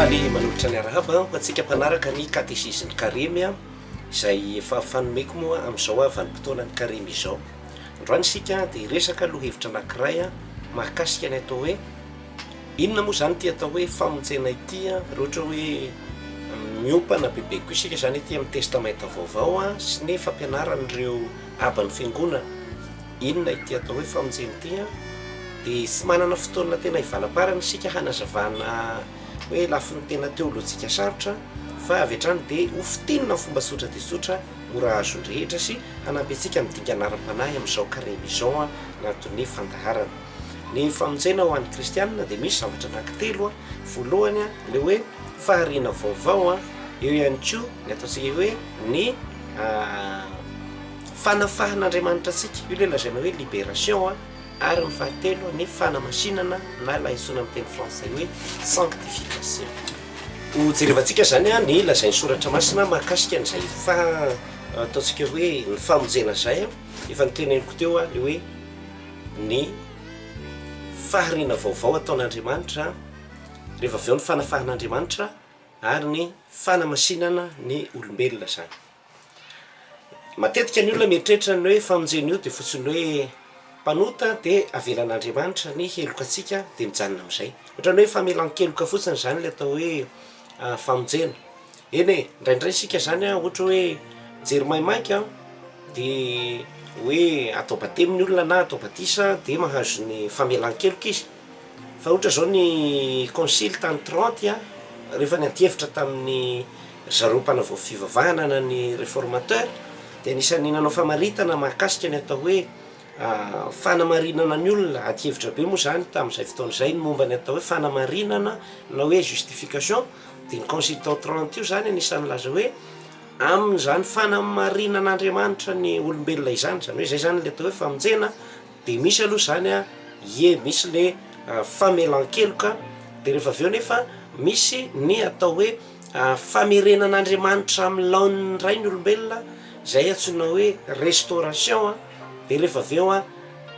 Faly manolotra ny arahaba ho antsika mpanaraka ny katesizin'ny Karemy izay efa fanomeko moa amin'izao aho vanim-potoanan'ny Karemy izao. Androany isika dia hiresaka lohahevitra anankiray mahakasika ny atao hoe Inona moa izany ity atao hoe famonjena ity an? Raha ohatra hoe miompana bebe koa isika izany aty amin'ny Testamenta Vaovao an, sy ny fampianaran'ireo aban'ny Fiangonana, inona ity atao hoe famonjena ity an? Dia tsy manana fotoana tena hivalamparana isika hanazavana hoe lafiny tena teolojika sarotra fa avy hatrany dia ho fintinina amin'ny fomba tsotra dia tsotra mora azon'ny rehetra sy hanampy antsika amin'ny dingana ara-panahy amin'izao karemy izao an, anatin'ny fandaharana. Ny famonjena ho an'ny kristianina dia misy zavatra anankitelo a, voalohany a, le hoe fahariana vaovao a, eo ihany koa ny ataontsika hoe ny fanafahan'Andriamanitra antsika, io le lazaina hoe liberation a, ary ny fahatelo ny fanamasinana na ilay antsoina amin'ny teny frantsay hoe sanctification. Ho jerevantsika izany a ny lazain'ny soratra masina mahakasika an'izay faha- ataontsika hoe ny famonjena izay a, efa noteneniko teo a le hoe. ny fahariana vaovao ataon'Andriamanitra, rehefa avy eo ny fanafahan'Andriamanitra ary ny fanamasinana ny olombelona izany. Matetika ny olona mieritreritra ny hoe famonjena io dia fotsiny hoe mpanota dia avelan'Andriamanitra ny heloka antsika dia mijanona amin'izay. Ohatran'ny hoe famelan-keloka fotsiny izany ilay atao hoe famonjena. Eny e, indraindray isika izany ohatra hoe mijery maimaika dia hoe atao batemy ny olona na atao batisa dia mahazo ny famelan-keloka izy. Fa ohatra izao ny concile tany Tranty a, rehefa niantiefitra tamin'ny ry zareo mpanavao fivavahana na ny reformateur dia anisan'ny nanao famaritana mahakasika ny atao hoe Fanamarinana ny olona, adihevitra be moa izany tamin'izay fotoana izay ny momba ny atao hoe fanamarinana na hoe justification, dia ny consultant trente io izany anisan'ny nilaza hoe amin'izany fanamarinan'Andriamanitra ny olombelona izany, izany hoe izay izany ilay atao hoe famonjena, dia misy aloha izany an, ie misy ilay famelan-keloka, dia rehefa avy eo nefa misy ny atao hoe famerenan'Andriamanitra amin'ny laoniny indray ny olombelona izay antsoina hoe restauration an. Dia rehefa avy eo an,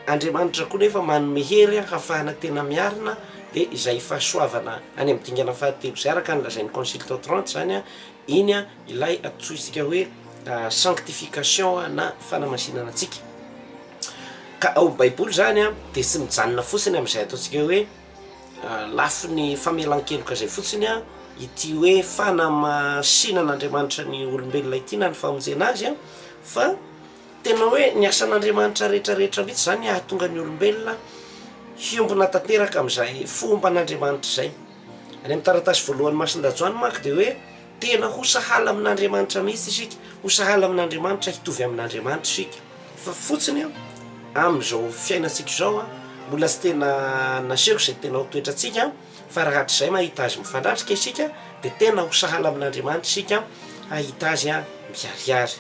Andriamanitra koa nefa manome hery an, hafahana tena miarina, dia izay fahasoavana any amin'ny dingana fahatelo izay, araka ny lazain'ny Consultes trente izany an, iny an, ilay antsointsika hoe sanctification an, na fanamasinana antsika. Ka ao amin'ny Baiboly izany an, dia tsy mijanona fotsiny amin'izay ataontsika hoe lafiny famelan-keloka izay fotsiny an, ity hoe fanamasinan'Andriamanitra ny olombelona ity na ny famonjena azy an, fa Tena hoe ny asan'Andriamanitra rehetra rehetra mihitsy izany hahatonga ny olombelona hiombona tanteraka amin'izay fomban'Andriamanitra izay. Any amin'ny taratasy voalohan'ny Masindajoany manko dia hoe tena ho sahala amin'Andriamanitra mihitsy isika, ho sahala amin'Andriamanitra, hitovy amin'Andriamanitra isika. Fa fotsiny amin'izao fiainantsika izao mbola tsy tena naseho izay tena ho toetrantsika fa raha hatrizay mahita Azy mifandratrika isika dia tena ho sahala amin'Andriamanitra isika hahita Azy miharihary.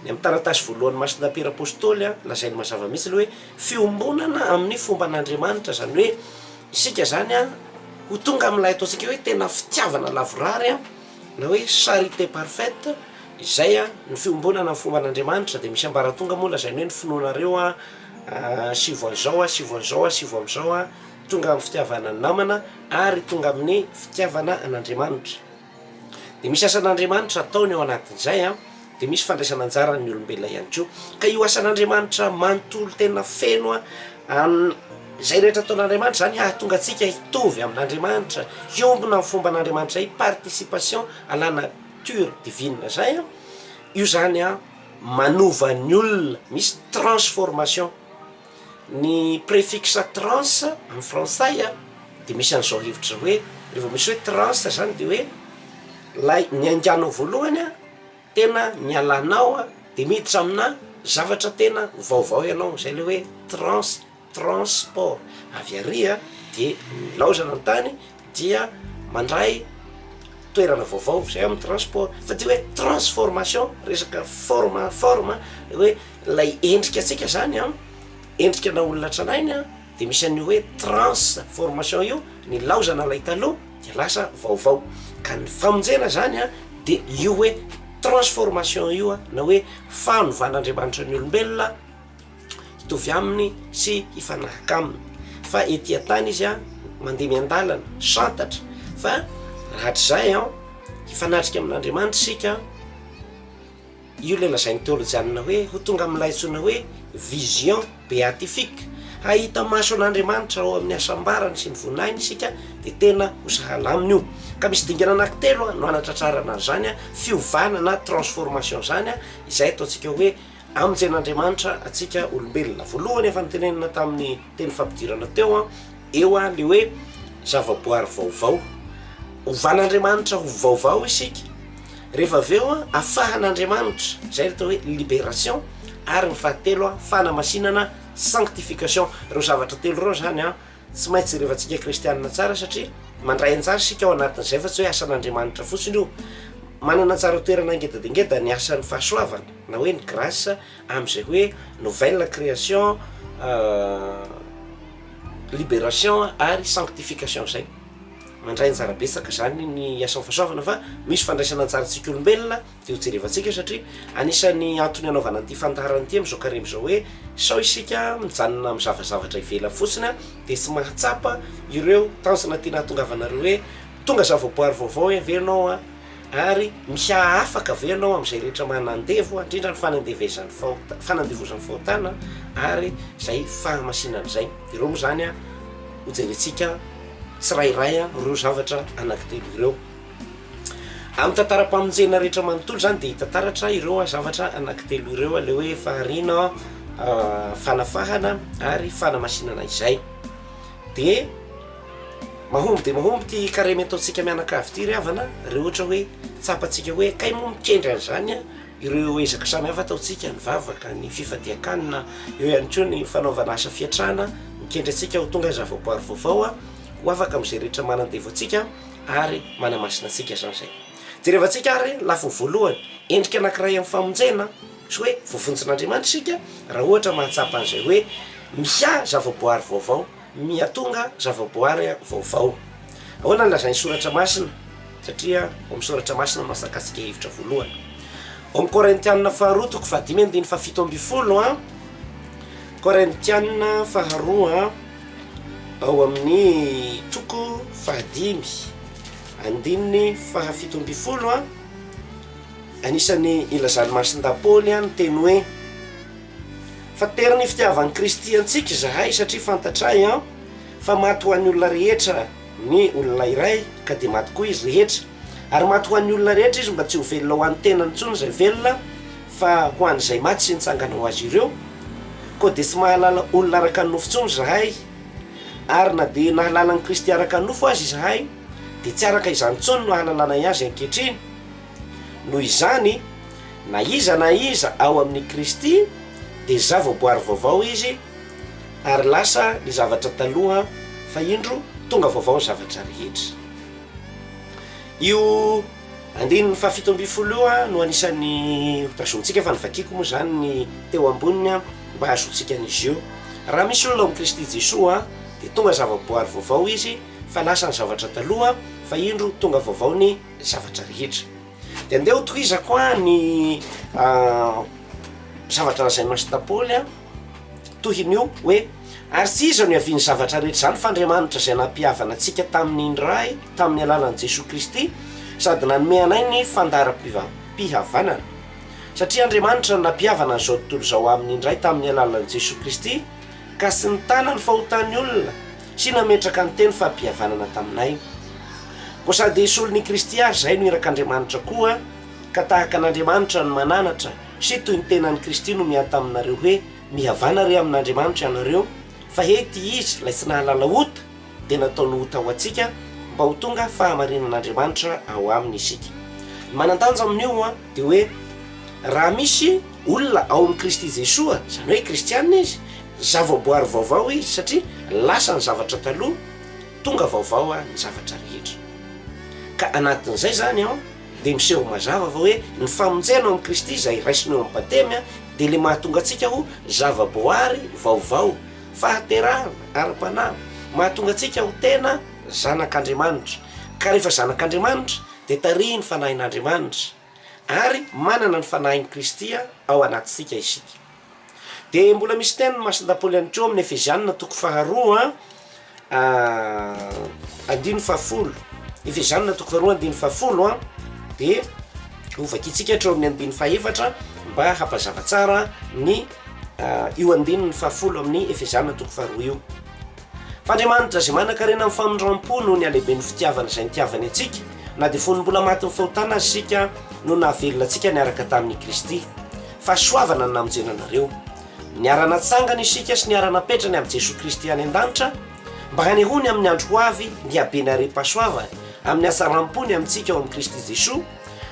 Ny amin'ny taratasy voalohan'ny Masina Piera Apostoly, lazainy mazava mihitsy ilay hoe fiombonana amin'ny fomban'Andriamanitra, izany hoe isika izany ho tonga amin'ilay ataontsika hoe tena fitiavana lavorary na hoe charité parfaite, izay ny fiombonana amin'ny fomban'Andriamanitra, dia misy ambaratonga moa lazainy hoe ny finoanareo sy vao an'izao sy vao an'izao sy vao amin'izao tonga amin'ny fitiavana ny namana ary tonga amin'ny fitiavana an'Andriamanitra. Dia misy asan'Andriamanitra ataony ao anatin'izay an, dia misy fandraisana anjaran'ny olombelona ihany koa. Ka io asan'Andriamanitra manontolo tena feno an, izay rehetra ataon'Andriamanitra izany hahatonga antsika hitovy amin'Andriamanitra, hiombona ny fomban'Andriamanitra, hi-participation à la nature divine izay an, io izany an manova ny olona, misy transformation. Ny préfixe trans amin'ny frantsay a, dia misy an'izao hevitra izao hoe, raha vao misy hoe trans izany dia hoe ilay niainganao voalohany a, tena nialanao a, dia miditra aminà zavatra tena vaovao ianao, izay ilay hoe trans, transport, avy àry a dia nilaozana ny tany, dia mandray toerana vaovao izay amin'ny transport fa dia hoe transformation resaka forme forme hoe ilay endrika antsika zany an endrika na olona tranainy an dia misy an'io hoe transe formation io ny laozana ilay taloha dia lasa vaovao ka ny famonjena zany an dia io hoe transformation io an na hoe fanovana andriamanitra ny olombelona hitovy aminy sy hifanahaka aminy fa ety an-tany izy a mandeha miandalana santatra fa rahatrizay an hifanatrika amin'andriamanitra isika io ilay lazain'ny teolojianina hoe ho tonga amin'ilay antsoina hoe vision beatifique hahita maso an'andriamanitra ao amin'ny hasambarany sy ny voninahiny isika dia tena ho sahala aminy io ka misy dingana anankitelo no anatratrarana an'izany a fiovana na transformation izany a izay ataontsika hoe Amin'ny jenin'Andriamanitra antsika olombelona. Voalohany efa notenenina tamin'ny teny fampidirana teo an, eo an, le hoe zavaboary vaovao. Hovan'Andriamanitra ho vaovao isika, rehefa avy eo an, afahan'Andriamanitra, izay ny atao hoe liberation, ary ny fahatelo an, fanamasinana, sanctification. Ireo zavatra telo ireo izany an. Tsy maintsy jerevantsika kristianina tsara satria mandray anjara isika ao anatin'izay fa tsy hoe asan'Andriamanitra fotsiny io. Manana anjara toerana ngeda dia ngeda ny asan'ny fahasoavana na hoe ny grâce amin'izay hoe nouvelle création, libération ary sanctification izay. Mandray anjara betsaka izany ny asan'ny fahasoavana fa misy fandraisana anjarantsika olombelona. Dia ho jerevantsika satria anisan'ny antony hanaovana an'ity fandaharana ity amin'izao karemy izao hoe sao isika mijanona mizava zavatra ivelany fotsiny dia tsy mahatsapa ireo tanjona tiana hahatongavanareo hoe tonga zavaboary vaovao ve ianao an? ary miha-afaka ve ianao amin'izay rehetra manandevo indrindra ny fanandevezan'ny fahota- fanandevozan'ny fahotana ary izay fahamasinana izay. Ireo moa izany an, ho jerentsika tsirairay ireo zavatra anankitelo ireo. Amin'ny tantaram-pamonjena rehetra manontolo izany dia hita taratra ireo zavatra anankitelo ireo, ilay hoe fahariana, fanafahana ary fanamasinana izay. Dia mahomby dia mahomby ity careme ataontsika mianakavy ity ry havana raha ohatra hoe tsapantsika hoe kay moa mikendry an'izany a, ireo ezaka samihafa ataontsika, ny vavaka, ny fifadian-kanina, eo ihany koa ny fanaovana asa fiantrana, mikendry antsika ho tonga zavaboary vaovao ho afaka amin'izay rehetra manan-devo antsika. ary manamasina antsika izany izay. Jerevantsika ary ny lafiny voalohany, endrika anankiray amin'ny famonjena, sy hoe voavonjin'Andriamanitra isika raha ohatra mahatsapa an'izay hoe miha zavaboary vaovao, miha tonga zavaboary vaovao. Ahoana no lazain'ny Soratra Masina? Satria ao amin'ny Soratra Masina no asakasika hevitra voalohany. Ao amin'ny Korintianina faharoa toko fahadimy andininy fahafito ambin'ny folo, Korintianina faharoa. Ao amin'ny toko fahadimy andininy fahafito ambin'ny folo, anisan'ny ilazan'i Masindahy Paoly ny teny hoe Fa tery ny fitiavan'i Kristy antsika izahay, satria fantatray fa maty ho an'ny olona rehetra ny olona iray, ka dia maty koa izy rehetra. Ary maty ho an'ny olona rehetra Izy mba tsy ho velona ho an'ny tenany intsony izay velona fa ho an'izay maty sy nitsangana ho azy ireo. Koa dia tsy mahalala olona araka ny nofo intsony izahay. Ary na dia nahalala an'i Kristy araka ny nofo aza izahay dia tsy araka izany intsony no ahalalana Azy ankehitriny. Noho izany, na iza na iza ao amin'i Kristy dia zavaboary vaovao izy ary lasa ny zavatra taloha fa indro tonga vaovao ny zavatra rehetra. Io andininy fahafito ambin'ny folo io an no anisan'ny hotazontsika fa ny vakiko moa izany ny teo amboniny an mba hahazoantsika an'izy io. Raha misy olona ao amin'i Kristy Jesoa an dia tonga zava-boary vaovao izy fa lasa ny zavatra taloha fa indro tonga vaovao ny zavatra rehetra. Dia andeha hotohizako an ny zavatra lazain'i Masita Paoly an. Tohin'io hoe, Ary tsy iza no ihavian'ny zavatra rehetra izany fa Andriamanitra izay nampihavana antsika tamin'ny ny Ray tamin'ny alalan'i Jesoa Kristy sady nanome anay ny fandaharam-pihavanana. Satria Andriamanitra no nampihavana an'izao tontolo izao amin'ny ny Ray tamin'ny alalan'i Jesoa Kristy ka tsy nitana ny fahotan'ny olona sy nametraka ny teny fampihavanana taminay. Koa sady solon'i Kristy ary izahay no irak'Andriamanitra koa ka tahaka an'Andriamanitra no mananatra Sy toy ny tenan'i Kristy no miahy taminareo hoe, Mihavana re amin'Andriamanitra ianareo, fa he ity izy ilay tsy nahalala ota dia nataony ota ho antsika, mba ho tonga fahamarinan'Andriamanitra ao aminy isika. Ny manan-danja amin'io dia hoe, raha misy olona ao amin'i Kristy Jesoa, izany hoe kristiana izy, zavaboary vaovao izy, satria lasa ny zavatra taloha, tonga vaovao ny zavatra rehetra. Ka anatin'izay izany an! dia miseho mazava fa hoe ny famonjena ao amin'i Kristy izay raisina eo amin'ny Batemy dia ilay mahatonga antsika ho zava-boary vaovao, fahaterahana ara-panahy, mahatonga antsika ho tena zanak'Andriamanitra, ka rehefa zanak'Andriamanitra dia tarihin'ny Fanahin'Andriamanitra ary manana ny Fanahin'i Kristy ao anatintsika isika. Dia mbola misy teny masin dapôly ihany koa amin'ny Efeziana toko faharoa andininy fahafolo Efeziana toko faharoa andininy fahafolo a dia ho vakintsika hatreo amin'ny andininy fahefatra mba hampazava tsara ny io andininy fahafolo amin'ny Efeziana toko faharoa io. F'Andriamanitra izay manankarena amin'ny famindrampo noho ny halehiben'ny fitiavany izay nitiavany antsika, na dia fony mbola matin'ny fahotana aza isika, no nahavelona antsika niaraka tamin'I Kristy. Fahasoavana ny namonjena anareo. Niara-natsangana isika sy niara-napetrany amin'i Jesoa Kristy any an-danitra mba hanehoany amin'ny andro ho avy ny habeny harem-pahasoavany amin'ny hatsaram-pony amintsika ao amin'i Kristy Jesoa,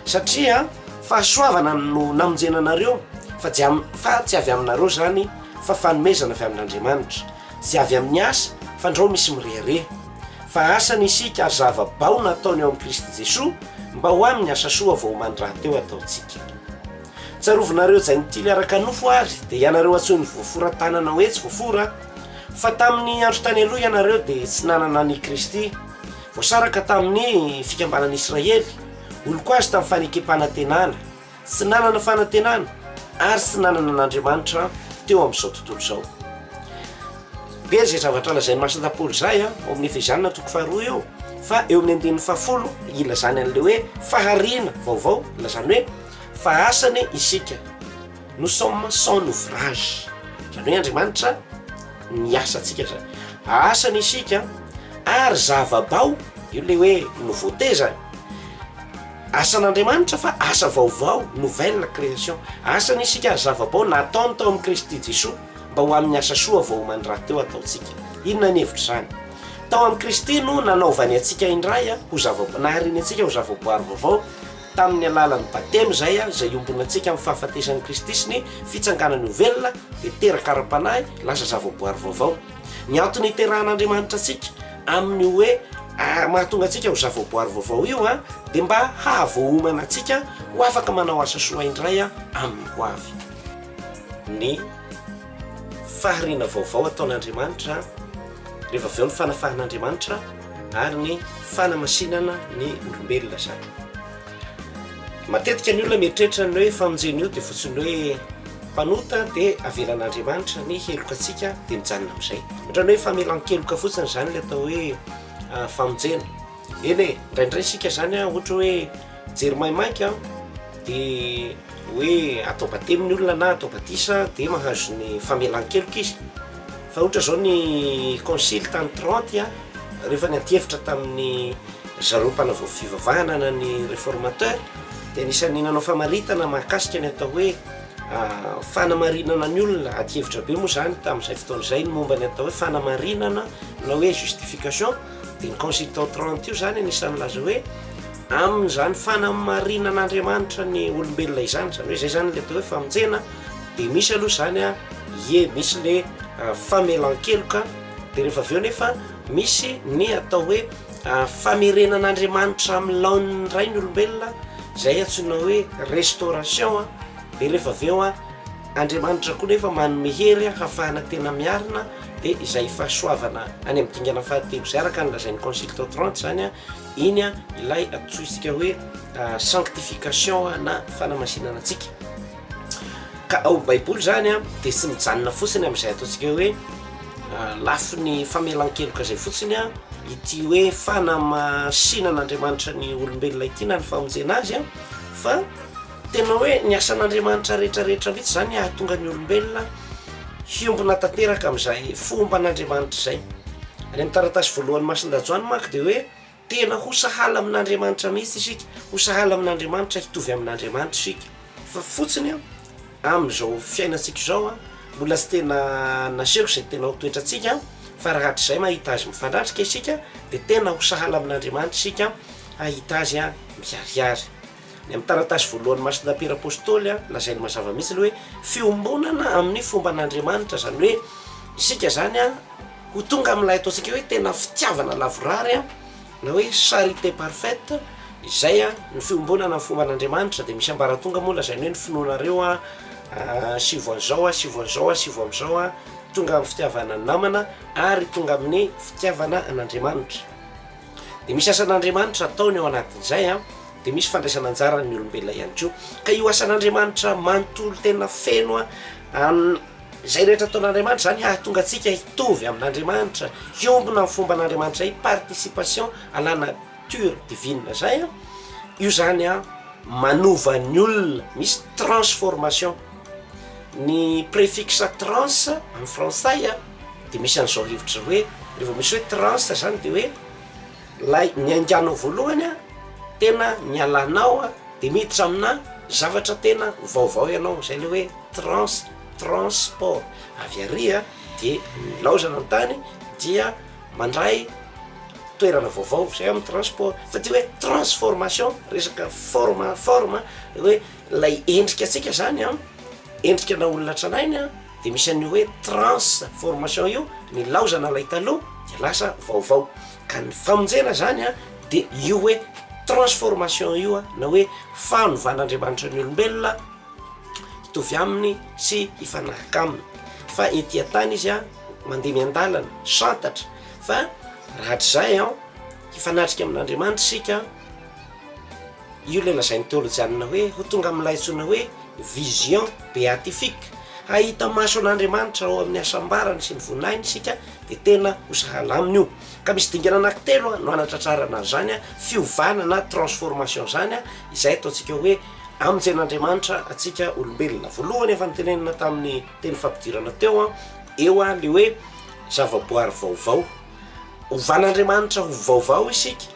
satria. Fahasoavana no namonjena anareo, fa tsy avy aminareo izany, fa fanomezana avy amin'Andriamanitra. Tsy avy amin'ny asa, fandrao misy mirehareha. Fa asany isika ary zava-bao nataony ao amin'i Kristy Jesoa mba ho amin'ny asa soa vao omaly rahateo ataontsika. Tsarovinareo Jaintily araka nofo ary dia ianareo antsoin'ny voafora tanana hoe tsy voafora fa tamin'ny andro tany aloha ianareo dia tsy nanana an'i Kristy, voasaraka tamin'ny fikambanan'i Israely, olon-ko azy tamin'ny fanekempanantenana. Tsy nanana fanantenana ary tsy nanana an'Andriamanitra teo amin'izao tontolo izao. Be izay zavatra lazain'ny Masina Paoly izay ao amin'ny Efezianina toko faharoa eo fa eo amin'ny andininy fahafolo ilazany an'ilay hoe fahariana vaovao, ilazany hoe fa asany isika, nous sommes son ouvrage, izany hoe Andriamanitra ny asantsika izany, asany isika ary zava-bao, io ilay hoe nouveauté izany. Asan'Andriamanitra fa asa vaovao, nouvelle création. Asany isika ary zava-bao nataony tao amin'i Kristy Jesoa mba ho amin'ny asa soa vaomany rahateo ataontsika. Inona ny hevitr'izany? Tao amin'i Kristy no nanaovany antsika indray ho zava-, nahariany antsika ho zava-boary vaovao tamin'ny alalan'ny Batemy izay, izay iombonantsika amin'ny fahafatesan'i Kristy sy ny Fitsanganany ho velona dia teraka ara-panahy, lasa zava-boary vaovao. Ny antony hiterahan'Andriamanitra antsika. Amin'ny hoe ary mahatonga antsika ho zavaboary vaovao io dia mba hahavoahomana antsika ho afaka manao asa soa indray amin'ny hoavy. Ny fahariana vaovao ataon'Andriamanitra, rehefa avy eo ny fanafahan'Andriamanitra ary ny fanamasinana ny olombelona izany. Matetika ny olona mieritreritra ny hoe famonjena io dia fotsiny hoe mpanota dia avelan'Andriamanitra ny heloka antsika dia mijanona amin'izay. Ohatran'ny hoe famelan-keloka fotsiny izany ilay atao hoe ah, famonjena. Eny e, indraindray isika izany ah, ohatra hoe jery maimaika aho dia hoe atao batemy ny olona na atao batisa dia mahazo ny famelan-keloka izy. Fa ohatra izao ny concile tany Trente ah, Rehefa niantiefitra tamin'ny zareo mpanavao fivavahana na ny reformateur dia anisan'ny nanao famaritana mahakasika ny atao hoe fanamarinana ny olona, adihevitra be moa izany tamin'izay fotoana izay ny momba ny atao hoe fanamarinana na hoe justification dia ny consultant 30 io izany anisan'ny milaza hoe amin'izany fanamarinan'Andriamanitra ny olombelona izany, izany hoe izay izany ilay atao hoe famonjena dia misy aloha izany a, ie misy ilay famelan-keloka. Dia rehefa avy eo nefa misy ny atao hoe famerenan'Andriamanitra amin'ny laoniny iray ny olombelona izay antsoina hoe restauration a, dia rehefa avy eo Andriamanitra koa nefa manome hery hahafahana tena miarina, dia izay fahasoavana any amin'ny dingana fahatelo izay araka ny lazain'ny concile tao Trente izany a, iny a ilay antsointsika hoe sanctification na fanamasinana antsika. Ka ao Baiboly izany dia tsy mijanona fotsiny amin'izay ataontsika hoe lafiny famelan-keloka izay fotsiny a ity hoe fanamasianan'Andriamanitra ny olombelona ity na ny famonjena azy a fa tena hoe ny asan'Andriamanitra rehetrarehetra mihitsy izany hahatonga ny olombelona hiombona tanteraka amin'izay fomba an'Andriamanitra izay. Any amin'ny taratasy voalohany masin-dajoany manko dia hoe Tena ho sahala amin'Andriamanitra mihitsy isika, ho sahala amin'Andriamanitra, hitovy amin'Andriamanitra isika. Fa fotsiny an, amin'izao fiainantsika izao an, mbola tsy tena naseho izay tena ho toetrantsika, fa raha hatrizay mahita Azy mifandrandraka isika, dia tena ho sahala amin'Andriamanitra isika, hahita Azy miharihary. Ny amin'ny taratasy voalohan'ny Masina Piera Apôstôly, lazainy mazava mihitsy ilay hoe fiombonana amin'ny fomban'Andriamanitra, izany hoe isika izany ho tonga amin'ilay ataontsika hoe tena fitiavana lavorary na hoe charité parfaite, izay ny fiombonana amin'ny fomban'Andriamanitra dia misy ambaratonga moa lazainy hoe ny finoanareo asivo an'izao, asivo an'izao, asivo amin'izao, tonga amin'ny fitiavana ny namana ary tonga amin'ny fitiavana an'Andriamanitra. Dia misy asan'Andriamanitra ataony ao anatin'izay an, dia misy fandraisana anjaran'ny olombelona ihany koa. Ka io asan'Andriamanitra manontolo tena feno an, an izay rehetra ataon'Andriamanitra izany hahatonga antsika hitovy amin'Andriamanitra, hiombona amin'ny fomban'Andriamanitra, i participation à la nature divine izay an, io izany an manova ny olona, misy transformation, ny préfixe trans amin'ny frantsay an. Dia misy an'izao hevitra izao hoe, raha vao misy hoe trans zany dia hoe ilay niainganao voalohany an, tena nialanao an, dia miditra aminà zavatra tena vaovao ianao, izay ilay hoe trans, transport. Avy àry an, dia nilaozana ny tany dia mandray toerana vaovao, izay amin'ny transport. Fa ity hoe transformation, resaka forme, forme, hoe ilay endrika antsika izany an, endrikanà olona tranainy an. Dia misy an'io hoe transformation io, nilaozana ilay taloha dia lasa vaovao, ka ny famonjena izany a dia io hoe transformation io a, na hoe fanovan'Andriamanitra ny olombelona hitovy aminy sy hifanahaka aminy, fa ety an-tany izy a mandeha miandalana, santatra, fa raha hatrizay an, hifanatrika amin'Andriamanitra isika. Io ilay lazain'ny teolojianina hoe ho tonga amin'ilay antsoina hoe vision beatifique. Hahita maso an'Andriamanitra ao amin'ny hasambarany sy ny voninahiny isika dia tena ho sahala aminy io. Ka misy dingana anankitelo no hanatratrarana an'izany fiovana na transformation izany izay ataontsika hoe hamonjen'Andriamanitra antsika olombelona. Voalohany efa notenenina tamin'ny teny fampidirana teo eo ilay hoe zavaboary vaovao. Ovan'Andriamanitra ho vaovao isika,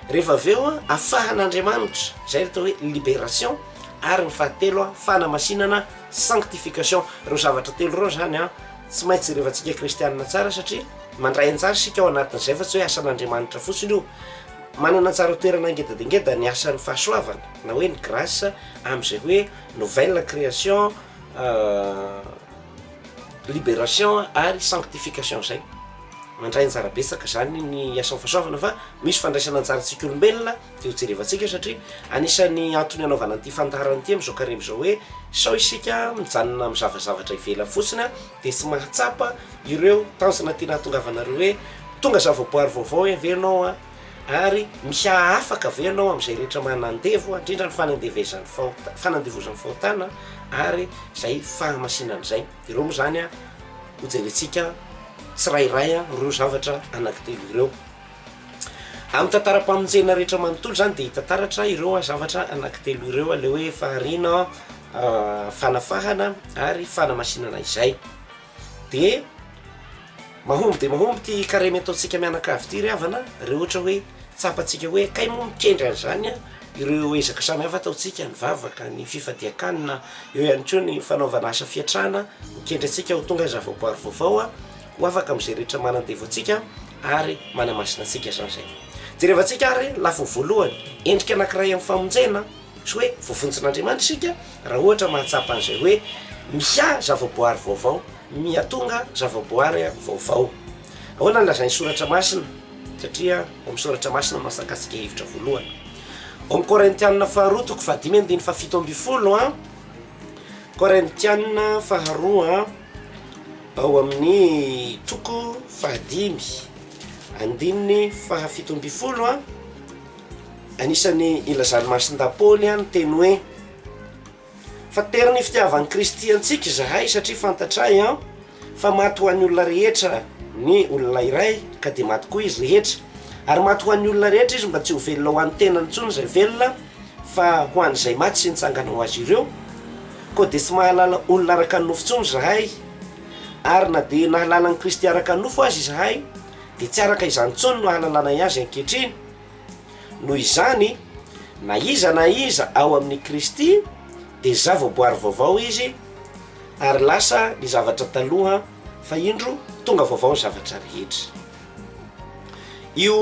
rehefa avy eo afahan'Andriamanitra, izay atao hoe liberation, ary ny fahatelo fanamasinana, sanctification, ireo zavatra telo ireo izany an tsy maintsy jerevantsika kristianina tsara satria mandray anjara isika ao anatin'izay fa tsy hoe asan'Andriamanitra fotsiny io, manana anjara toerana ngeda dia ngeda ny asan'ny fahasoavana na hoe ny grace amin'izay hoe nouvelle création. Liberation ary sanctification izay mandray anjara betsaka izany ny asan'ny fahasoavana fa misy fandraisana anjara antsika olombelona dia ho jerevantsika satria anisan'ny antony hanaovana an'ity fandaharana ity amin'izao karemy izao hoe sao isika mijanona amin'ny zavazavatra ivelany fotsiny dia tsy mahatsapa ireo tanjona tiana hahatongavanareo hoe tonga zavaboary vaovao ve ianao a Ary misy hahafaka ve ianao amin'izay rehetra manandevo, indrindra ny fanandevezan'ny fahota- fanandevozan'ny fahotana ary izay fahamasinana izay? Ireo moa izany hojerentsika tsirairay ireo zavatra anankitelo ireo. Amin'ny tantaram-pamonjena rehetra manontolo izany dia hita taratra ireo zavatra anankitelo ireo, ilay hoe fahariana, fanafahana ary fanamasinana izay. Dia mahomby dia mahomby ity careme ataontsika mianakavy ity ry havana a, re ohatra hoe tsapantsika hoe kay moa mikendry an'izany a, ireo ezaka samy hafa ataontsika, ny vavaka, ny fifadian-kanina, eo ihany koa ny fanaovana asa fiantrana, mikendry antsika ho tonga zavaboary vaovao a, ho afaka amin'izay rehetra manan-devo antsika ary manamasina antsika izany izay. Jerevantsika ary lafiny voalohany, endrika anankiray amin'ny famonjena. Tsy hoe voavonjin'Andriamanitra isika raha ohatra mahatsapa an'izay hoe miha zavaboary vaovao, miha tonga zavaboary vaovao. Ahoana no lazain'ny Soratra Masina? Satria ao amin'ny Soratra Masina no mahasankasika hevitra voalohany. Ao amin'ny Korintianina faharoa toko fahadimy andininy fahafito ambin'ny folo a. Korintianina faharoa ao amin'ny toko fahadimy andininy fahafito ambin'ny folo a. Anisan'ny ilazan'i Masindahy Paoly ny teny hoe Fa tery ny fitiavan'i Kristy antsika izahay, satria fantatray fa maty ho an'ny olona rehetra ny olona iray, ka dia maty koa izy rehetra, ary maty ho an'ny olona rehetra izy, mba tsy ho velona ho an'ny tenany intsony izay velona, fa ho an'izay maty sy nitsangana ho azy ireo. Koa dia tsy mahalala olona araka ny nofo intsony izahay, ary na dia nahalala an'i Kristy araka ny nofo aza izahay, dia tsy araka izany intsony no hanalanay azy ankehitriny. Noho izany, na iza na iza ao amin'i Kristy dia zavaboary vaovao izy, ary lasa ny zavatra taloha, fa indro tonga vaovao ny zavatra rehetra. Io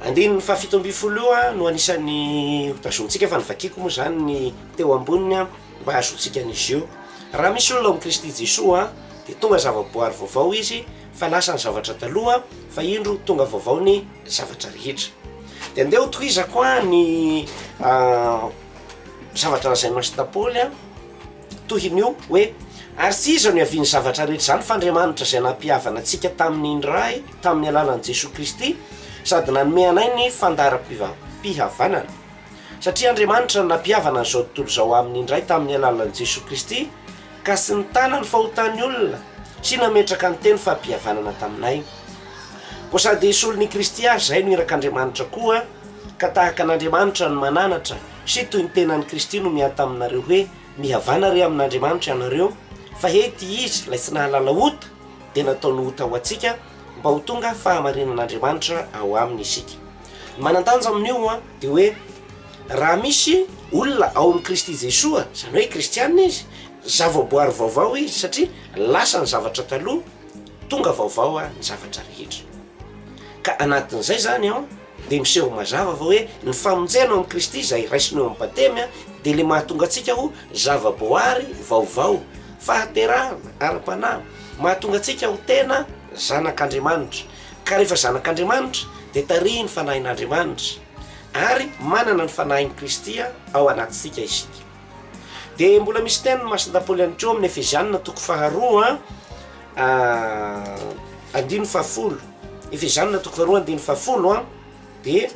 andininy fahafito ambin'ny folo io no anisan'ny hotazontsika, fa ny vakiko moa izany ny teo amboniny mba hahazoantsika an'izy io. Raha misy olona ao amin'i Kristy Jesoa dia tonga zavaboary vaovao izy, Fa lasa ny zavatra taloha fa indro tonga vaovao ny zavatra rehetra. Dia andeha ho tohizako ny zavatra lazainao sy Paoly a, tohin'io hoe ary tsy iza no hiavian'ny zavatra rehetra izany fa Andriamanitra izay nampihavana antsika tamin'ny Ray tamin'ny alalan'i Jesoa Kristy sady nanome anay ny fandaharam-pihavanana. Satria Andriamanitra no nampihavana an'izao tontolo izao amin'ny Ray tamin'ny alalan'i Jesoa Kristy. Ka sy nitana ny fahotan'ny olona, sy nametraka ny teny fahapihavanana taminay. Koa sady hisolo ny Kristy ary izay no irak'Andriamanitra koa, ka tahaka an'Andriamanitra no mananatra, sy toy ny tenan'i Kristy no miahy taminareo hoe, Mihavana re amin'Andriamanitra ianareo, fa he ity izy ilay tsy nahalala ota, dia nataony ota ho antsika, mba ho tonga fahamarinan'Andriamanitra ao aminy isika. Ny manan-danja amin'io dia hoe. Raha misy olona ao amin'i Kristy Jesoa, izany hoe kristiana izy, zavaboary vaovao izy, satria lasa ny zavatra taloha, tonga vaovao ary ny zavatra rehetra. Ka anatin'izay izany an, dia miseho mazava fa hoe ny famonjena ao amin'i Kristy izay raisina eo amin'ny Batemy an, dia ilay mahatonga antsika ho zavaboary vaovao, fahaterahana ara-panahy, mahatonga antsika ho tena zanak'Andriamanitra. Ka rehefa zanak'Andriamanitra dia tarihin'ny Fanahin'Andriamanitra. Ary manana ny Fanahin'i Kristy ao anatintsika isika. Dia mbola misy tenin'ny Masina Paoly ihany koa amin'ny Efeziana toko faharoa andininy fahafolo, Efeziana toko faharoa andininy fahafolo an, dia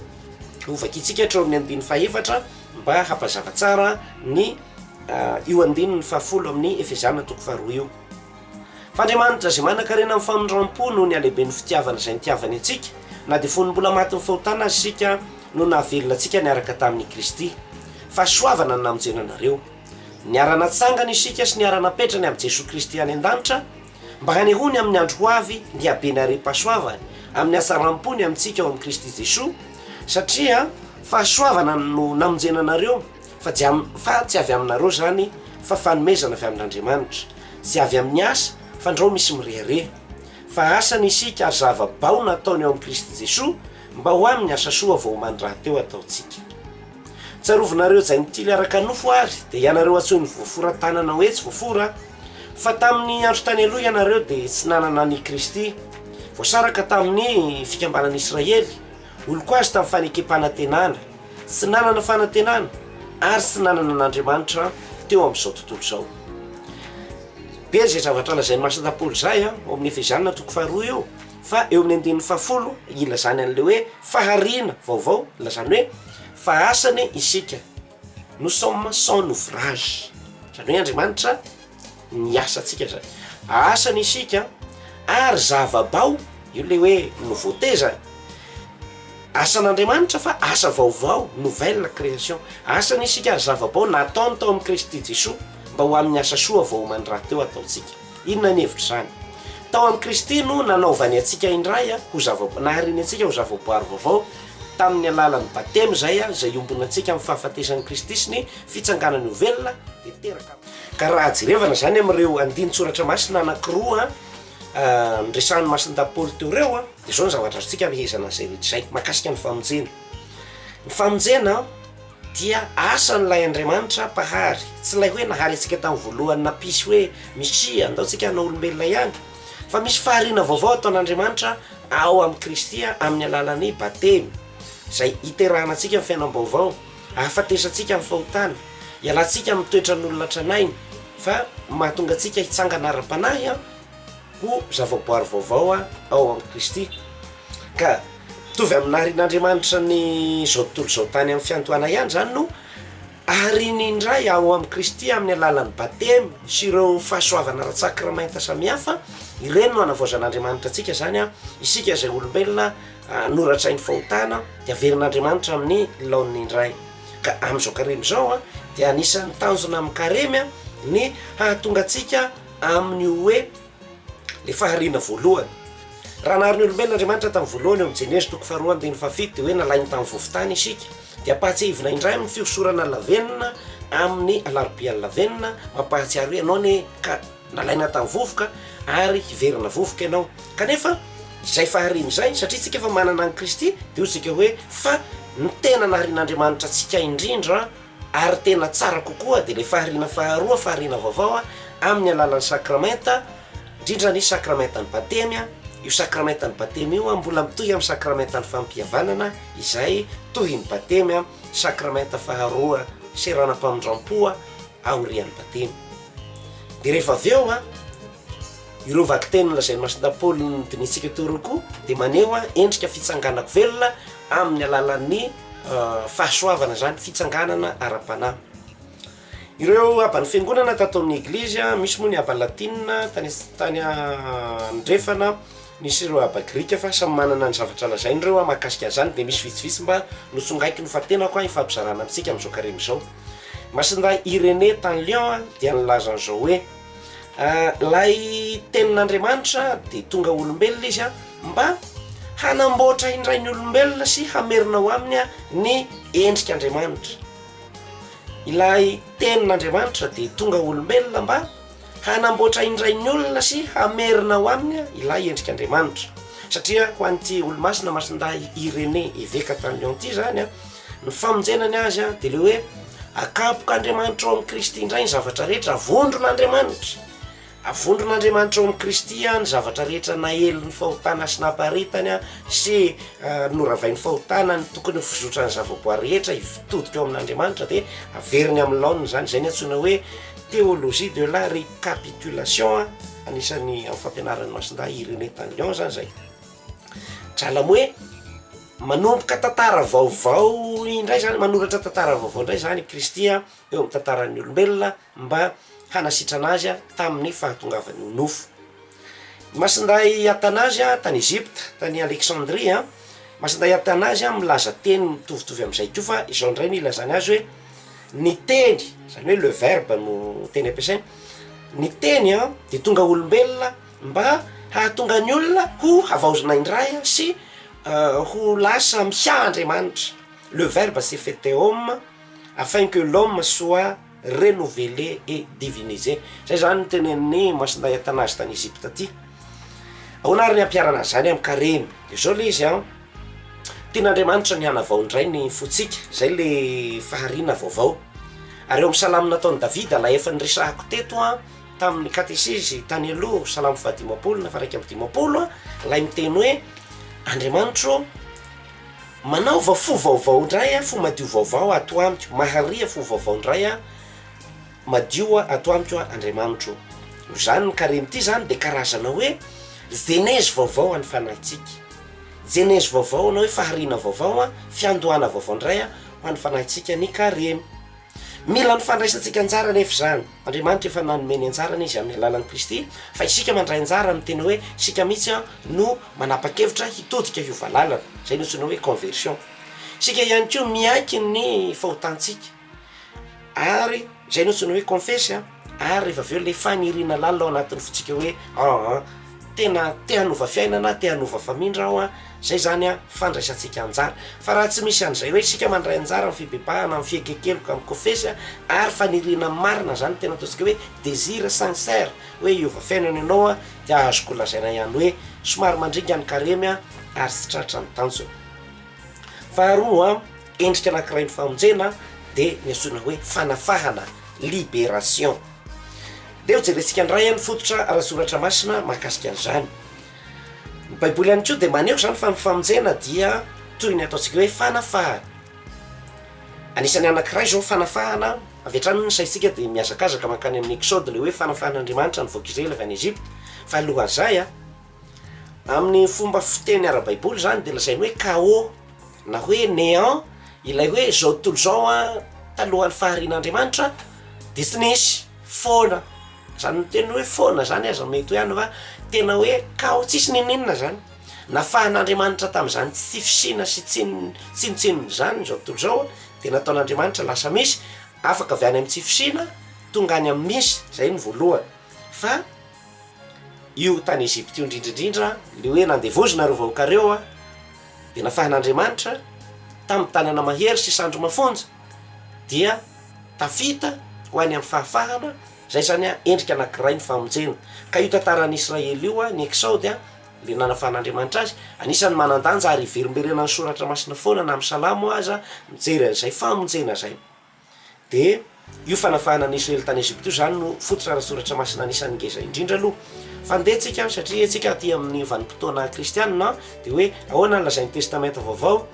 hovakintsika hatreo amin'ny andininy fahefatra mba hampazava tsara ny io andininy fahafolo amin'ny Efeziana toko faharoa io. F'Andriamanitra izay manan-karena amin'ny famindram-po noho ny halehiben'ny fitiavany izay nitiavany antsika, na dia fony mbola matin'ny fahotana aza isika, no nahavelona antsika niaraka tamin'i Kristy. Fahasoavana ny namonjena anareo. Niara-natsangana isika sy niara-napetrany amin'i Jesoa Kristy any an-danitra, mba hanehoany amin'ny andro ho avy ny habeny harem-pahasoavany amin'ny hatsaram-pony amintsika ao amin'i Kristy Jesoa, satria. Fahasoavana no namonjena anareo, fa tsy avy aminareo izany, fa fanomezana avy amin'Andriamanitra. Tsy avy amin'ny asa, fandrao misy mirehareha. Fa asa ny isika ary zava-bao nataony eo amin'i Kristy Jesoa mba ho amin'ny asa soa vao omaly rahateo ataontsika. Tsarovinareo Jaintily araka nofo ary dia ianareo antsoin'ny voafora tanana hoe tsy voafora fa tamin'ny andro tany aloha ianareo dia tsy nanana an'i Kristy. Voasaraka tamin'ny fikambanan'i Israely Oloko azy tamin'ny fanekempanantenana, tsy nanana fanantenana ary tsy nanana an'Andriamanitra teo amin'izao tontolo izao. Be izay zavatra lazain'ny masina Paoly izay ao amin'ny Efesiana toko faharoa eo fa eo amin'ny andininy fahafolo ilazany an'ilay hoe fahariana vaovao, ilazany hoe fa asany isika. Nous sommes son ouvrage, izany hoe Andriamanitra ny asantsika izany. Asany isika ary zava-bao, io ilay hoe nouveauté izany. Asan'Andriamanitra fa asa vaovao, nouvelle création. Asany isika ary zava-bao nataony tao amin'i Kristy Jesoa mba ho amin'ny asa soa vao oman-dRahateo ataontsika. Inona ny hevitr'izany? Tao amin'i Kristy no nanaovany antsika indray ho zava-boary, nahariny antsika ho zava-boary vaovao tamin'ny alalan'ny Batemy izay, izay iombonantsika amin'ny fahafatesan'i Kristy sy ny Fitsanganany ho velona dia teraka. Ka raha jerevana izany amin'ireo andinin-tsoratra masina anankiroa niresahan'ny Masindahy Paoly teo ireo dia izao ny zavatra azontsika amehezana an'izay rehetra izay, mahakasika ny famonjena. Ny famonjena Dia asan'ilay Andriamanitra Mpahary, tsy ilay hoe nahary antsika tamin'ny voalohany nampisy hoe Misia, andao tsika hanao olombelona ihany, fa misy fahariana vaovao ataon'Andriamanitra ao amin'i Kristy amin'ny alalan'ny Batemy, izay iterahana antsika amin'ny fiainam-baovao, ahafatesantsika amin'ny fahotana, ialantsika amin'ny toetran'olona tranainy, fa mahatonga antsika hitsangana ara-panahy, Ho zavaboary vaovao ao amin'i Kristy, ka mitovy amin'ny naharin'Andriamanitra ny izao tontolo izao tany amin'ny fiandohana ihany izany no ahariany indray ao amin'i Kristy amin'ny alalan'ny batemy sy ireo fahasoavana ara-tsakramenta samihafa, ireny no anavaozan'Andriamanitra antsika izany an, isika izay olombelona noratrain'ny fahotana dia averin'Andriamanitra amin'ny laoniny indray, ka amin'izao karemy izao dia anisan'ny tanjona amin'ny karemy ny hahatonga antsika amin'ny hoe le fahariana voalohany. Raha nahary ny olombelona Andriamanitra tamin'ny voalohany ao amin'ny Genesy toko faharoa andininy fahafito dia hoe nalainy tamin'ny vovontany isika. Dia ampahatsiahivina indray amin'ny fihosorana lavenona amin'ny alarobia lavenona, mampahatsiaro hoe ianao anie ka nalaina tamin'ny vovoka ary hiverina vovoka ianao. Kanefa izay fahariana izay satria isika efa manana an'i Kristy dia hoy isika hoe fa ny tena naharian'Andriamanitra antsika indrindra Ary tena tsara kokoa dia ilay fahariana faharoa, fahariana vaovao amin'ny alalan'ny sakramenta, indrindra ny sakramentan'ny batemy, io sakramentan'ny batemy io mbola mitohy amin'ny sakramentan'ny fampihavanana izay tohin'ny batemy, sakramenta faharoa seranam-pamindram-po aorian'ny batemy, dia rehefa avy eo an, ireo vakiteny nolazain'i Masina Paoly nodinihintsika teo ireo koa dia maneho endrika fitsanganako velona amin'ny alalan'ny. fahasoavana izany fitsanganana ara-panahy. Ireo aban'ny fiangonana tato amin'ny eglizy, misy moa ny aba latina tany tany andrefana, misy ireo aba grika fa samy manana ny zavatra lazainy ireo a mahakasika an'izany dia misy vitsivitsy mba notsongaiko nofantenako a ifampizarana amintsika amin'izao karemy izao. Masindahy Irenée tany Lyon dia nilaza an'izao hoe. Ilay Tenin'Andriamanitra dia tonga olombelona izy mba hanamboatra indray ny olombelona sy hamerina ho aminy ny endrik'Andriamanitra. Ilay Tenin'Andriamanitra dia tonga olombelona mba hanamboatra indray ny olona sy hamerina ho aminy ilay endrik'Andriamanitra. Satria ho an'ity Olomasina Masindahy Irénée, eveka tany Lyon ity izany Ny famonjena ny azy a de le hoe akapoka Andriamanitra ao amin'i Kristy indray ny zavatra rehetra, avondron'Andriamanitra, avondron'Andriamanitra ao amin'i Kristy a ny zavatra rehetra naelin'ny fahotana sy namparitany a sy noravain'ny fahotana ny tokony ho fizotran'ny zavaboary rehetra hitodika ao amin'Andriamanitra de averiny amin'ny laoniny izany, izay ny antsoina hoe théologie de la récapitulation a, anisan'ny amin'ny fampianaran'i Masindahy Irénée tany Lyon zany zay, drala moa e! Manomboka tantara vaovao indray zany, manoratra tantara vaovao indray zany i Kristy eo amin'ny tantaran'ny olombelona mba hanasitrana azy tamin'ny fahatongavany ho nofo. Masindahy Atanazy tany Egypta, tany Alexandria, Masindahy Atanazy milaza teny mitovitovy amin'izay koa fa izao indray no ilazany azy hoe ny teny, zany hoe le verbe no teny ampiasainy, ny teny dia tonga olombelona mba hahatonga ny olona ho havaozina indray sy ho lasa miaha Andriamanitra, le verbe s'est faite homme afin que l'homme soit renouvelé et divinisé, zay zany no tenenin'ny Masindahy Athanase tany Egypte aty. Ahoana ary ny ampiharana an'izany amin'ny karemy? De zao le izy an, tian'Andriamanitra ny hanavao indray ny fontsika, zay le fahariana vaovao, ary eo amin'ny salamo nataon'i Davida ilay efa niresahako teto an, tamin'ny katesezy tany aloha salamo fahadimampolo na faraika amby dimampolo lay miteny hoe andriamanitro manaova fo vaovao indray a fo madio vaovao ato amiko mahariha fo vaovao indray a madio a ato amiko a andriamanitro zany ny karemy ty zany de karazana hoe zenezy vaovao any fanahintsika jenezy vaovao na hoe fahariana vaovao a fiandohana vaovao indray a ho any fanahintsika ny karemy mila ny fandraisantsika anjara nefa zany Andriamanitra efa nanome ny anjarany izy amin'ny alalan'i Kristy, fa isika mandray anjara amin'ny teny hoe isika mihitsy no manapa-kevitra hitodika hiova lalana, izay nantsoina hoe conversion. Isika ihany koa miaiky ny fahotantsika ary izay no antsoina hoe confesse ary rehefa avy eo ilay faniriana lalina ao anatin'ny fontsika hoe an an. tena te hanova fiainana, te hanova famindra aho an, izay izany an, fandraisantsika anjara. Fa raha tsy misy an'izay hoe isika mandray anjara amin'ny fibebahana, amin'ny fiekenkeloka, amin'ny kofesy an, ary faniriana marina izany tena ataontsika hoe désir sincère hoe hiova fiainana ianao an, dia azoko lazaina ihany hoe somary mandringa ny karemy an, ary tsy tratra ny tanjona. Faharoa an, endrika anankiray ny famonjena dia ny antsoina hoe fanafahana, liberation. Dia hojerentsika indray ny fototra ara-tsoratra masina mahakasika an'izany. Ny Baiboly ihany koa dia maneho izany fa ny famonjena dia toy ny ataontsika hoe fanafahana. Anisan'ny anankiray izao fanafahana, avy hatrany ny saintsika dia mihazakazaka mankany amin'ny Exode ilay hoe fanafahan'Andriamanitra ny vahoaka Israely avy any Egypta, fa alohan'izay a, Amin'ny fomba fiteny ara-baiboly izany dia lazainy hoe Khaô na hoe Néant, ilay hoe izao tontolo izao an, talohan'ny faharian'Andriamanitra dia tsy nisy, foana, izany miteny hoe foana izany aza mety hoe any fa tena hoe Khaô tsisy n'inon'inona izany, nafahan'Andriamanitra tamin'izany tsy fisiana sy tsinontsinona izany izao tontolo izao an, dia nataon'Andriamanitra lasa misy, afaka avy any amin'ny tsy fisiana tonga any amin'ny misy, izay no voalohany fa. io tany Egypte io indrindra indrindra le hoe nandevozina reo vahoaka reo a de nafahan'Andriamanitra tamin'ny tanana mahery sy sandry mafonja dia tafita ho any amin'ny fahafahana zay zany a endrika anakiray ny famonjena ka io tantaran'ny Israely io a ny Exode a le nanafahan'Andriamanitra azy anisan'ny manandanja ary hiverimberena ny soratra masina foana na amin'ny salamo aza mijery an'izay famonjena zay. Dia io fanafahana an'i Israely tany Egypta io izany no fototra ara-tsoratra masina anisan'ny ngeza indrindra aloha. Fandeha antsika satria antsika aty amin'ny vanim-potoana kristianina dia hoe ahoana ny lazain'ny testamenta vaovao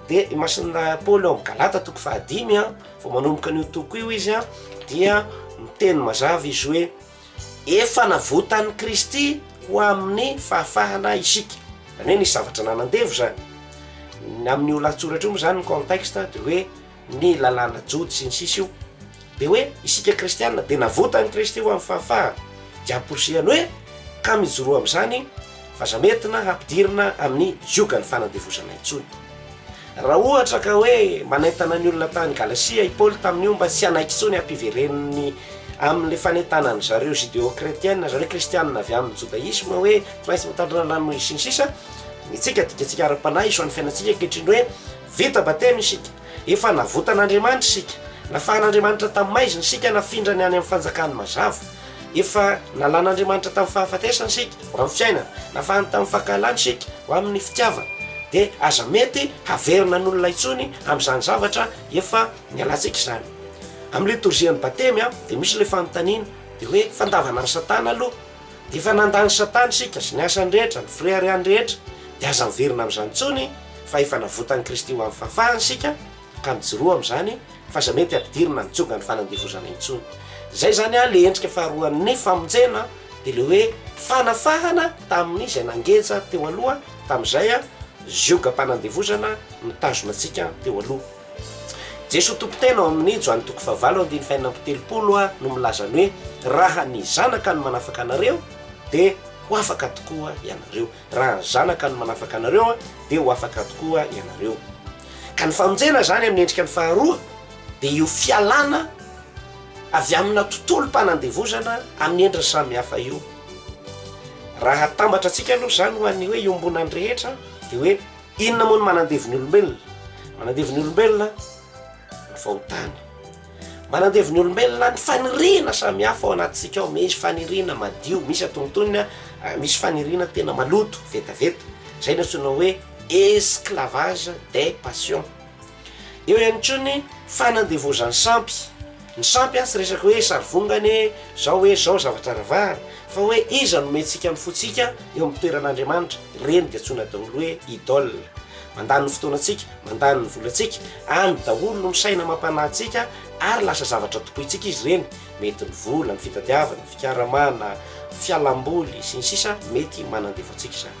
dia imasin'ny Paoly ao amin'ny Galata toko fahadimy a, vao manomboka an'io toko io izy a dia miteny mazava izy hoe efa navotan'i Kristy ho amin'ny fahafahana isika, izany hoe nisy zavatra nanandevo izany. Ny amin'io lahatsoratra io moa izany ny contexte dia hoe ny lalàna jody sy ny sisa io de hoe isika kristiana de navotan'i Kristy ho an'ny fahafahana de amporisihany hoe ka mijoroa amin'izany fa aza mietina hampidirina amin'ny ziogan'ny fanandevozana intsony raha ohatra ka hoe manentana ny olona tany Galasia i Paoly tamin'ny omba tsy hanaiky intsony hampivereniny amin'le fanentanan'ny zareo judeo kretiana zareo kristiana avy amin'ny jodaisme hoe tsy maintsy mitandrina ny ranomaizina sy ny sisa ny tsika dikatsika ara-panahy isoan'ny fiainantsika ankehitriny hoe Vita batemy isika. Efa navotan'Andriamanitra isika. Nafahan'Andriamanitra tamin'ny maizina isika, nafindrany any amin'ny fanjakany mazava. Efa nalan'Andriamanitra tamin'ny fahafatesana isika, ho amin'ny fiainana. Nafahany tamin'ny fankahalany isika, ho amin'ny fitiavana. Dia aza mety haverina ny olona intsony amin'izany zavatra efa nialantsika izany. Amin'ny litorzian'ny batemy dia misy ilay fanontaniana, dia hoe, Fandavana an'i Satana aloha? Dia efa nanda an'i Satana isika sy ny asany rehetra, ny fireharehany rehetra, dia aza miverina amin'izany intsony, fa efa navotan'i Kristy ho amin'ny fahafahana isika, ka mijoroa amin'izany, fa aza mety ampidirina ny jongan'ny fanandevozana intsony. Izay izany ilay endrika faharoan'ny famonjena, dia ilay hoe fanafahana tamin'ny izay nangeja teo aloha, tamin'izay zioga-panandevozana nitazona antsika teo aloha. Jesoa Tompon-tena ao amin'ny Joany toko fahavalo andininy fahenina amby telopolo a no milaza ny hoe raha ny Zanaka no manafaka anareo dia ho afaka tokoa ianareo. Raha ny Zanaka no manafaka anareo dia ho afaka tokoa ianareo. Ka ny famonjena izany amin'ny endrika ny faharoa dia io fialana avy amina tontolom-panandevozana amin'ny endriny samihafa io. Raha atambatrantsika aloha izany ho an'ny hoe iombonan'ny rehetra dia hoe Inona moa ny manandevo ny olombelona? Manandevo ny olombelona ny fahotana. Manandevo ny olombelona ny faniriana samihafa ao anatintsika ao. Misy faniriana madio, misy antonontonony, ah, misy faniriana tena maloto, vetaveta. Izay no antsoina hoe esclavage des passions. Eo ihany koa ny fanandevozan'ny sampy. Ny sampy tsy resaka hoe sarivongana e, izao hoe izao zavatra ravahana, fa hoe iza no omentsika ny fontsika eo amin'ny toeran'Andriamanitra, ireny dia antsoina daholo hoe idole. Mandany ny fotoanantsika, mandany ny volantsika, any daholo no misaina amam-panahy antsika ary lasa zavatra tompointsika izy ireny, mety ny vola, ny fitadiavana, ny fikaramana, fialamboly, sy ny sisa mety manandevo antsika izany.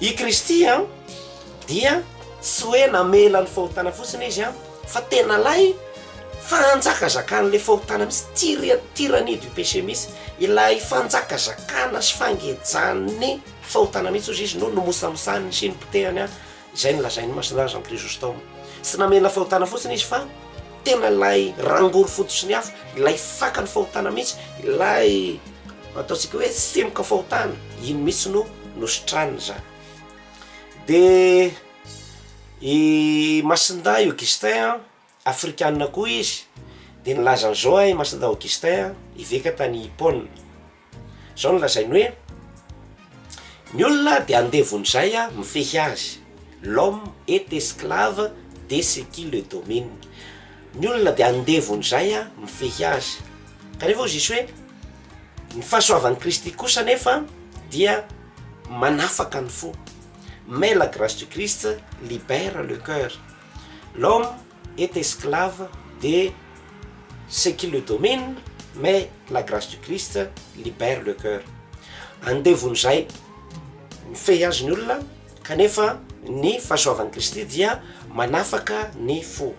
I Kristy dia tsy hoe namela ny fahotana fotsiny Izy fa tena lay fanjakazakan'ilay fahotana mihitsy, tyria- tyrannie du péché mihitsy, ilay fanjakazakana sy fangejan'ny fahotana mihitsy hozy Izy no nomosamosahan'ny sy nipotehany izay no lazain'ny Masina Jean Chrysostome. Tsy namela fahotana fotsiny Izy fa Tena ilay rangory foto sy ny afo, ilay fakan'ny fahotana mihitsy, ilay ataontsika hoe semboka fahotana, iny mihitsy no nositraniny izany. Dia i Masindahy Augustin an, afrikanina koa izy, dia nilaza an'izao an i Masindahy Augustin, eveka tany Hippone. Izao no lazainy hoe, Ny olona dia andevon'izay mifehy azy, l'homme est esclave de ce qui le domine, ny olona dia andevon'izay mifehy azy. Kanefa hoy Jesoa hoe, Ny fahasoavan'i Kristy kosa anefa dia manafaka ny fo, mais la grâce du Christ libère le coeur, l'homme. est esclave de ce qui le domine mais la grace du Christ libère le coeur, andevon'izay mifehy azy ny olona kanefa ny fahasoavan'i Kristy dia manafaka ny fo.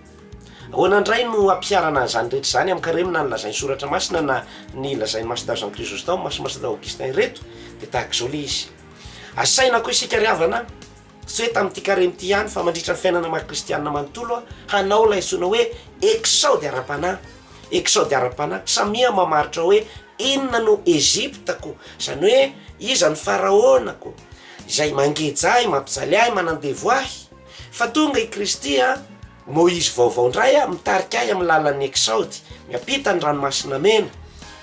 Ahoana indray no ampiharana an'izany rehetra izany amin-karemina ny lazain'ny Soratra Masina na ny lazain'ny Master Jean Chrysostome, Master Augustin ireto? Dia tahaka izao ilay izy, Asaina koa isika ry havana, Tsy hoe tamin'ity karemy ity ihany fa mandritra ny fiainana maha kristianina manontolo aho, hanao ilay antsoina hoe Eksaody ara-panahy, Eksaody ara-panahy, samia mamaritra hoe inona no Egyptako, izany hoe iza no Faraonako, izay mangeja ahy, mampijaly ahy, manandevo ahy, fa tonga i Kristy an, Moizy vaovao indray aho, mitarika ahy amin'ny lalan'ny Eksaody, miampita ny Ranomasina Mena,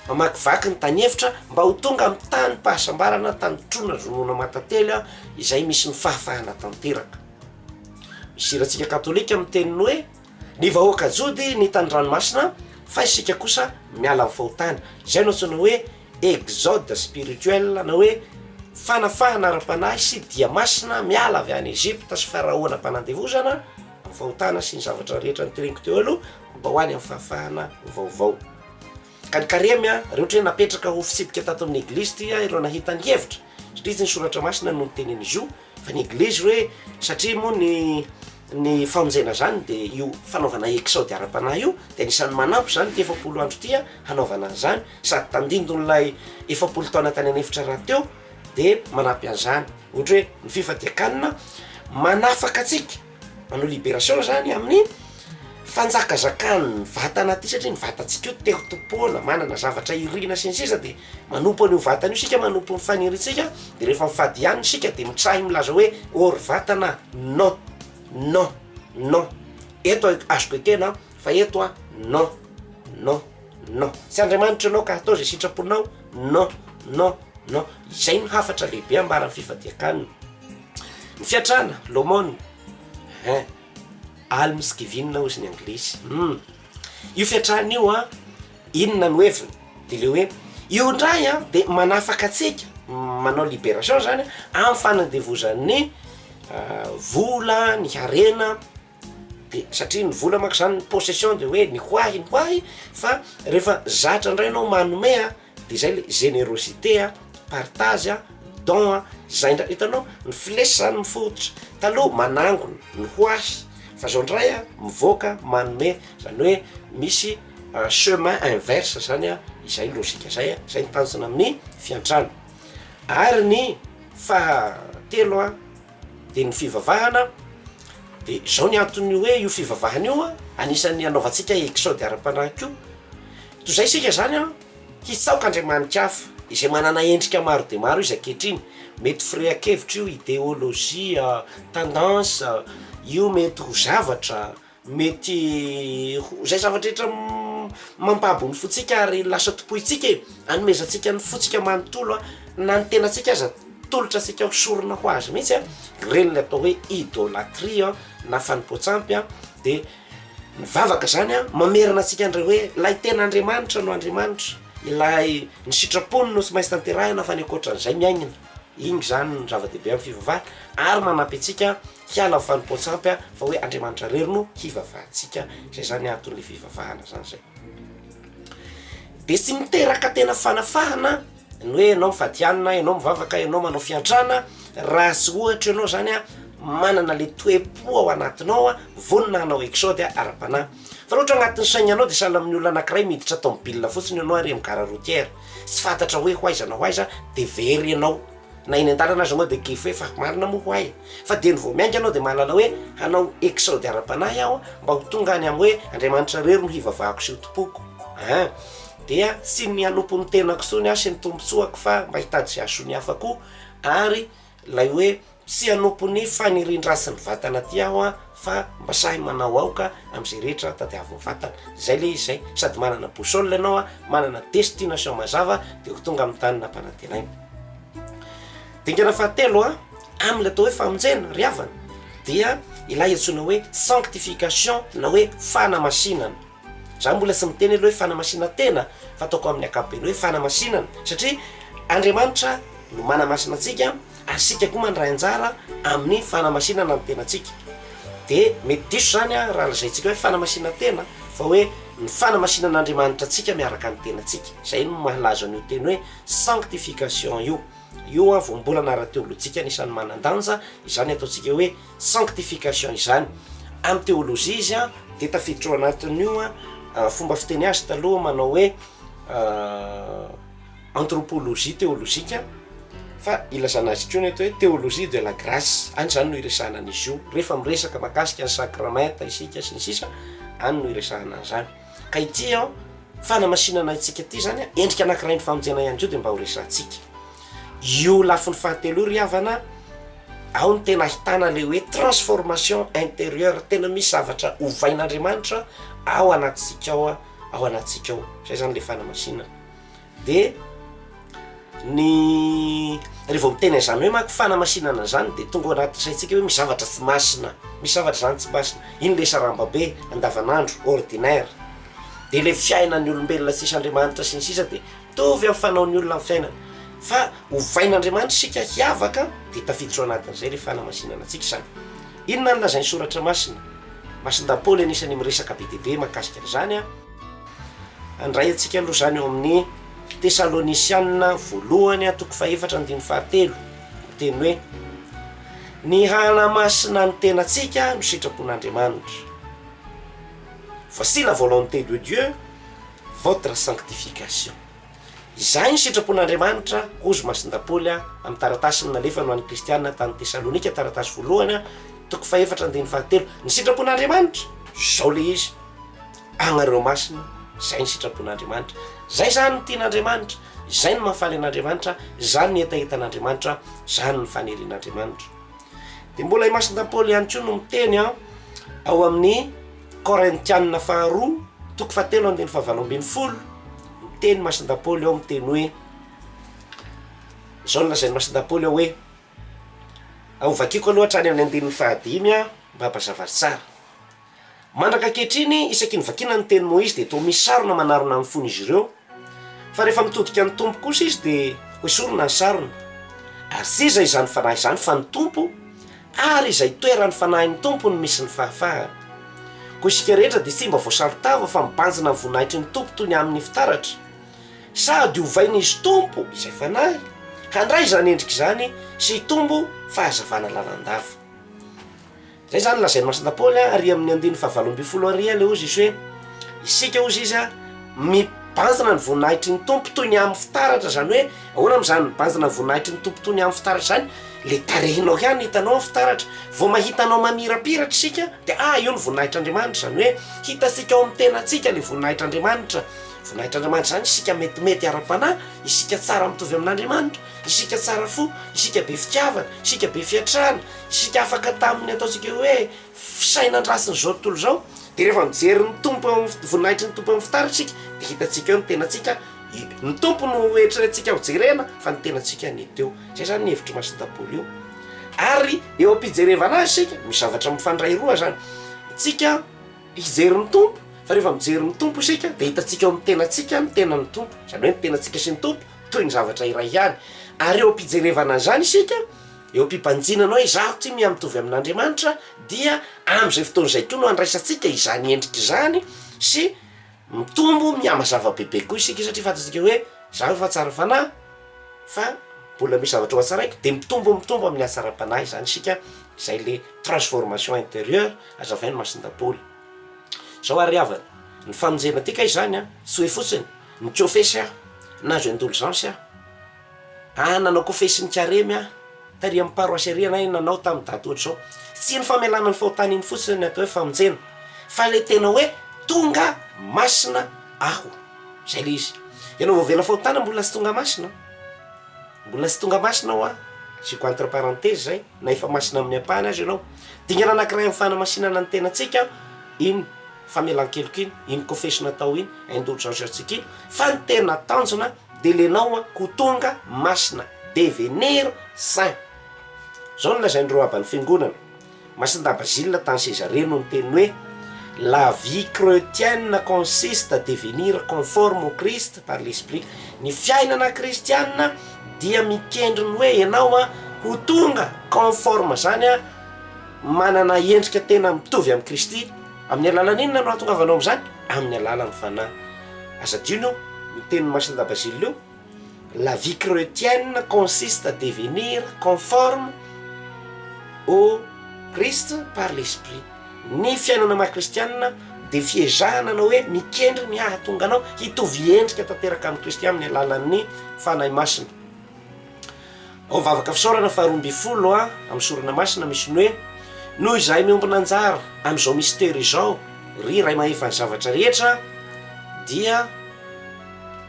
mamakivaky ny tany efitra, mba ho tonga amin'ny tanim-pahasambarana tandrotroina ronono matately aho, izay misy ny fahafahana tanteraka. Misy hirantsika katolika miteny ny hoe, Ny vahoaka jody nita ny ranomasina, fa isika kosa miala amin'ny fahotana. Izay no antsoina hoe Exode spirituel na hoe fanafahana ara-panahy sy dia masina miala avy any Egypta sy Faraona mpanandevozana amin'ny fahotana sy ny zavatra rehetra nitereko teo aloha mba ho any amin'ny fahafahana vaovao. Ka ny karemy a, reo ohatry ny hoe napetraka ho fitsipika tato amin'ny eglizy ty a ireo nahita ny hevitra satria tsy ny soratra masina no nitenen'izy io, Fa ny Englizy hoe satria moa ny ny famonjena izany dia io fanaovana exode ara-panahy io dia anisan'ny manampy izany ity efapolo andro ity hanaovana an'izany sady tandindon'ilay efapolo taona tany an'efitra rahateo dia manampy an'izany ohatra hoe ny fifadian-kanina manafaka antsika manao liberation izany amin'ny fanjakazakan'ny vatana aty satria ny vatantsika io te ho tompoana manana zavatra irina sy ny sisa dia Manompo an'io vatana io isika, manompo ny fanirintsika, dia rehefa mifadiana isika dia mitrahy milaza hoe oh ry vatana non, non, non, eto a- azoko ekena an, fa eto an non, non, non, tsy Andriamanitra ianao ka atao izay sitraponao, non, non, non, izay no hafatra lehibe ambaran'ny fifadian-kanina. Ny fiantrana, l'aumône, ehe, almsgiving hozy ny anglisy, hum. Io fiantrana io an, inona no heviny? De le hoe io indray an de manafaka antsika, manao liberation zany an, amin'ny fanandevozan'ny vola, ny harena, de satria ny vola manko zany ny possession de hoe ny ho ahy ny ho ahy fa rehefa zatra indray anao manome an. de izay le générosité a, partage a, don a, zay ndray hitanao ny flèche zany mifototra, taloha manangona ny ho ahy fa zao ndray a mivoaka manome zany hoe misy chemin inverse zany a, izay logique zay a, zay no tanjona amin'ny fiantrana, ary ny fahatelo a de ny fivavahana de zao ny anton'ny hoe io fivavahana io a anisan'ny anaovantsika exode ara-panahy koa. Toy izay isika izany an, hitsaoka andriamani-ka hafa, izay manana endrika maro dia maro izy ankehitriny, mety firehan-kevitra io, ideolojia, tendance, io mety ho zavatra, mety ho izay zavatra rehetra mampabo ny fontsika ary lasa tompointsika e, anomezantsika ny fontsika manontolo na ny tenantsika aza tolotra antsika ho sorona ho azy mihitsy an, ireny ilay atao hoe idolatria na fanompoan-tsampy an dia. Mivavaka izany aho, mamerina antsika indray hoe, Ilay tena Andriamanitra no Andriamanitra, Ilay ny sitrapony no tsy maintsy tanterahina fa ny ankoatran'izay miaingina. Iny izany no zava-dehibe amin'ny fivavahana ary manampy antsika hiala amin'ny fanompoan-tsampy fa hoe Andriamanitra irery no hivavahantsika. Izay izany anton'ilay fivavahana izany izay. Dia tsy miteraka tena fanafahana ny hoe ianao mifadianina, ianao mivavaka, ianao manao fiantrana raha tsy ohatra ianao zany a manana le toe-po ao anatinao vonona hanao exode ara-panahy, fa raha ohatra anatin'ny saignanao dia sahala amin'ny olona anakiray miditra tomobilina fotsiny ianao ary amin'ny gare routière tsy fantatra hoe ho aiza na ho aiza dia very ianao. Na eny an-dalana aza moa dia gfy fa marina moa ho'a e! Fa dieny vao miainga ianao dia mahalala hoe hanao exode ara-panahy aho mba ho tonga any amin'ny hoe Andriamanitra irery no hivavahako sy hotompoiko an! Dia tsy ny hanompo ny tenako intsony aho sy ny tombontsoako fa mba hitady izay hahasoa ny hafa koa ary ilay hoe tsy hanompo ny fanirian-dratsy ny vatana aty aho an! fa mba sahy manao aoka amzay rehetra tadiaviny vatana zay le izy zay sady manana boussole ianao a manana destination mazava de ho tonga aminy tany nampanantenaina dingana fahatelo a aminy atao hoe famonjena ry havana dia ilay antsoina hoe sanctification na hoe fanamasinana za mbola tsy miteny aloha hoe fanamasina tena fa ataoko aminy akapobeny hoe fanamasinana satria andriamanitra no manamasina antsika ary isika koa mandray anjara amin'ny fanamasinana ny tenantsika dia mety diso izany raha lazaintsika hoe fanamasinana tena fa hoe ny fanamasinana Andriamanitra antsika miaraka ny tenantsika, izay no mahalaza an'io teny hoe sanctification io, io an voambolana ara-teolojika anisan'ny manan-danja izany ataontsika hoe sanctification izany, amin'ny teolojia izy an dia tafiditra ao anatin'io an fomba fiteny azy taloha manao hoe anthropologie théologique fa ilazana azy koa ny atao hoe théologie de la grace, any izany no iresahana an'izy io, rehefa miresaka mahakasika ny sacrementa isika sy ny sisa any no iresahana an'izany, ka ity an fanamasinana antsika ity izany an endrika anankiray ny famonjena ihany koa dia mba ho resahantsika io lafiny fahatelo io ry havana ao ny tena ahitana ilay hoe transformation intérieure tena misy zavatra ovain'Andriamanitra ao anatintsika ao an ao anatintsika ao izay izany ilay fanamasinana De ny rehefa vao miteny an'izany hoe manko fanamasinana an'izany dia tonga ao anaty saintsika hoe misy zavatra tsy masina, misy zavatra izany tsy masina, iny ilay saramba be andavan'andro, ordinaire, dia ilay fiainan'ny olombelona tsisy Andriamanitra sy ny sisa dia mitovy amin'ny fanaon'ny olona amin'ny fiainany, fa ovain'Andriamanitra isika hiavaka dia tafiditra ao anatin'izay ilay fanamasinana antsika izany, inona no lazain'ny soratra masina? Masina daholo ian'isan'ny miresaka be dia be mahakasika an'izany an. Handray antsika aloha izany ao amin'ny Tesalonisianina voalohany toko fahefatra andininy fahatelo, miteny hoe Ny hanamasina ny tenantsika no sitrapon'Andriamanitra. Voici la volonté de Dieu, votre sanctification. Izay ny sitrapon'Andriamanitra, hoy izy masindahy Paoly amin'ny taratasiny nalefany ho an'ny Kristianina tany Tesalonika, taratasy voalohany toko fahefatra andininy fahatelo. Ny sitrapon'Andriamanitra, izao ilay izy, Agnareo masina, izay ny sitrapon'Andriamanitra. Izay izany ny tian'Andriamanitra, izay no mahafaly an'Andriamanitra, izany ny hetahetan'Andriamanitra, izany ny fanirian'Andriamanitra. Dia mbola i Masina Paoly ihany koa no miteny an, ao amin'ny Korintianina faharoa, toko fahatelo andininy fahavalo ambin'ny folo, miteny Masina Paoly ao miteny hoe, izao no lazain'i Masina Paoly ao hoe, hovakiako aloha hatrany amin'ny andininy fahadimy an, mba hampazava azy tsara. Mandraka ankehitriny, isaky ny vakiana ny tenin'i Moizy dia toa misy sarona manarona amin'ny fon'izy ireo, fa rehefa mitodika ny Tompo kosa izy dia hoesorina ny sarona. Azy iza izany fanahy izany fa ny Tompo, ary izay itoeran'ny fanahin'ny Tompo no misy ny fahafahana. Koa isika rehetra dia tsy mba voasaro-tava fa mibanjina ny voninahitry ny Tompo toy ny amin'ny fitaratra. Sady hovain'izy Tompo izay fanahy handray izany endrika izany sy hitombo fahazavana lalandava. Izay izany no lazain'i Masina Paoly ary amin'ny andininy fahavalo ambin'ny folo ary ela hozy izy hoe isika hozy izy a mibanjina ny voninahitry ny Tompo toy ny amin'ny fitaratra izany hoe ahoana moa izany mibanjina ny voninahitry ny Tompo toy ny amin'ny fitaratra izany? Le tarehinao ihany hitanao ny fitaratra, vao mahita anao mamirapiratra isika dia ah io ny voninahitr'Andriamanitra izany hoe hitantsika ao amin'ny tenantsika le voninahitr'Andriamanitra, voninahitr'Andriamanitra izany isika metimety ara-panahy, isika tsara mitovy amin'Andriamanitra, isika tsara fo, isika be fitiavana, isika be fiantrana, Isika afaka tamin'ny ataontsika hoe fisainan-drasin'izao tontolo izao, dia rehefa mijery ny Tompo eo amin'ny voninahitry ny Tompo eo amin'ny fitaratra isika dia hitantsika eo ny tenantsika, ny Tompo no eritreretintsika hojerena fa ny tenantsika ny teo. Izay izany ny hevitr'i Masina Daholo io. Ary eo am-pijerevana azy isika, misy zavatra mifandray roa izany, isika hijery ny Tompo fa rehefa mijery ny Tompo isika dia hitantsika eo amin'ny tenantsika ny tenan'ny Tompo, izany hoe ny tenantsika sy ny Tompo toy ny zavatra iray ihany, ary eo am-pijerevana an'izany isika, Eo am-pibanjina anao izaho tsy miha-mitovy amin'Andriamanitra, dia amin'izay fotoana izay koa no handraisantsika izany endrika izany sy mitombo mihamazava bebe koa isika satria fantatsika hoe izaho efa tsara fanahy fa mbola misy zavatra ho hatsaraiko, dia mitombo mitombo amin'ny hatsaram-panahy izany isika, izay ilay transformation interieure hazavain'i Masindampoly. Izao ary ry havana, ny famonjena ity kay izany an, tsy hoe fotsiny nikôfesy aho na nahazo indolgence aho, Ah nanao kofehy sy nikaremy ah tary amin'ny paroasy ery ianay nanao tamin'ny daty ohatr'izao. Tsy ny famelana ny fahotana iny fotsiny ny atao hoe famonjena fa ilay tena hoe tonga masina aho. Izay ilay izy. Ianao voavela fahotana mbola tsy tonga masina? Mbola tsy tonga masina aho ah. Asiako entre parenthèse izay na efa masina amin'ny ampahany aza ianao. Dingana anankiray amin'ny fanamasinana ny tenantsika iny famelan-keloka iny, iny kofehy sy natao iny, indulgence antsika iny fa ny tena tanjona, de lenao a ho tonga masina devenir saint zao no lazain'ireo aban'ny fiangonana Masindava Gilles tany Cesarea no niteny hoe la vie chretienne consiste à devenir conforme au Christ par l'esprit ny fiainana kristianina dia mikendry ny hoe enao a ho tonga conforme zany a manana endrika tena mitovy amin'i Kristy Amin'ny alalan'ny inona no ahatongavanao amin'izany? Amin'ny alalan'ny Fanahy. Aza adino io, ny tenin'i Marcelin Bazile io, La vie chretienne consiste à devenir conforme au Christ par l'esprit. Ny fiainana maha kristianina dia fiezahana na hoe mikendry ny hahatonga anao hitovy endrika tanteraka amin'i Kristy amin'ny alalan'ny Fanahy Masina. Ao vavaka fisaorana faha roa ambin'ny folo a, amin'ny sorona masina misy ny hoe, Noho izahay miombona anjara amin'izao mistera izao, ry Ray mahefa ny zavatra rehetra, dia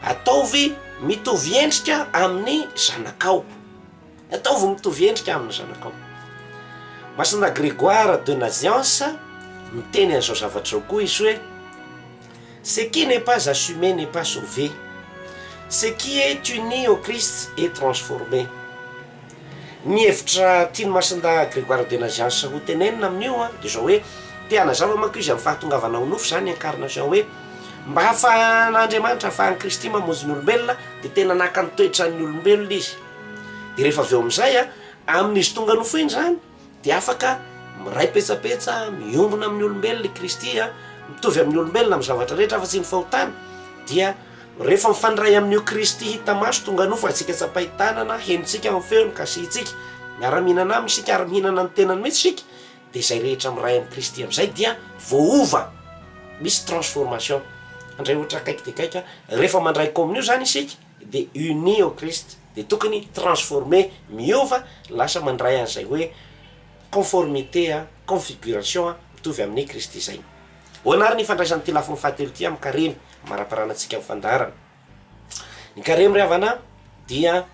ataovy mitovy endrika amin'ny zanakao. Ataovy mitovy endrika amin'ny zanakao. Masina Grégoire de Naziance, miteny an'izao zavatra izao koa izy hoe, Ce qui n'est pas assume n'est pas sauve, ce qui est uni au Christ est transforme. Ny hevitra tian'i Masindahy Grégoire de Naziances ho tenenina amin'io dia izao hoe, te hanazava manko izy amin'ny fahatongavana ho nofo izany incarnation hoe, mba hahafahan'Andriamanitra, hahafahan'i Kristy mamonjy ny olombelona dia tena naka ny toetran'ny olombelona izy. Dia rehefa avy eo amin'izay amin'izy tonga nofo iny izany, dia afaka miray petsapetsa, miombona amin'ny olombelona i Kristy, mitovy amin'ny olombelona amin'ny zavatra rehetra afa-tsy ny fahotana, dia rehefa mifandray amin'io Kristy hita maso tonga nofantsika tsapain-tanana, henontsika amin'ny feony, kasihintsika, miara-mihinana aminy isika ary mihinana ny tenany mihitsy isika, dia izay rehetra miray amin'i Kristy amin'izay dia voaova, misy transformation, handray ohatra akaiky dia akaiky, rehefa mandray kaominio izany isika, dia unis au Christ, dia tokony transformer, miova, lasa mandray an'izay hoe conformité, configuration, mitovy amin'i Kristy izay. Ahoana ary ny ifandraisan'ity lafiny fahatelo ity amin'ny Karemy, amaraparana antsika amin'ny fandaharana? Ny Karemy ry havana dia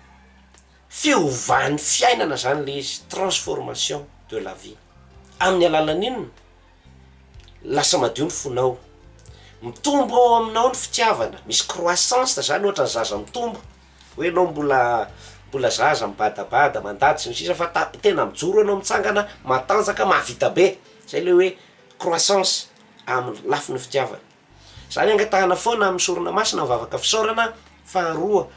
fiovan'ny fiainana izany ilay izy, transformation de la vie, amin'ny alalan'inona? Lasa madio ny fonao. Mitombo ao aminao ny fitiavana, misy croissance zany ohatra ny zaza mitombo, hoe enao mbola mbola zaza mibadabada mandady sy ny sisa fa ta- tena mijoro enao mitsangana matanjaka mahavita be, zay le hoe croissance amin'ny lafiny fitiavana. Zany angatahana foana amin'ny sorona masina mivavaka fisaorana, faharoa.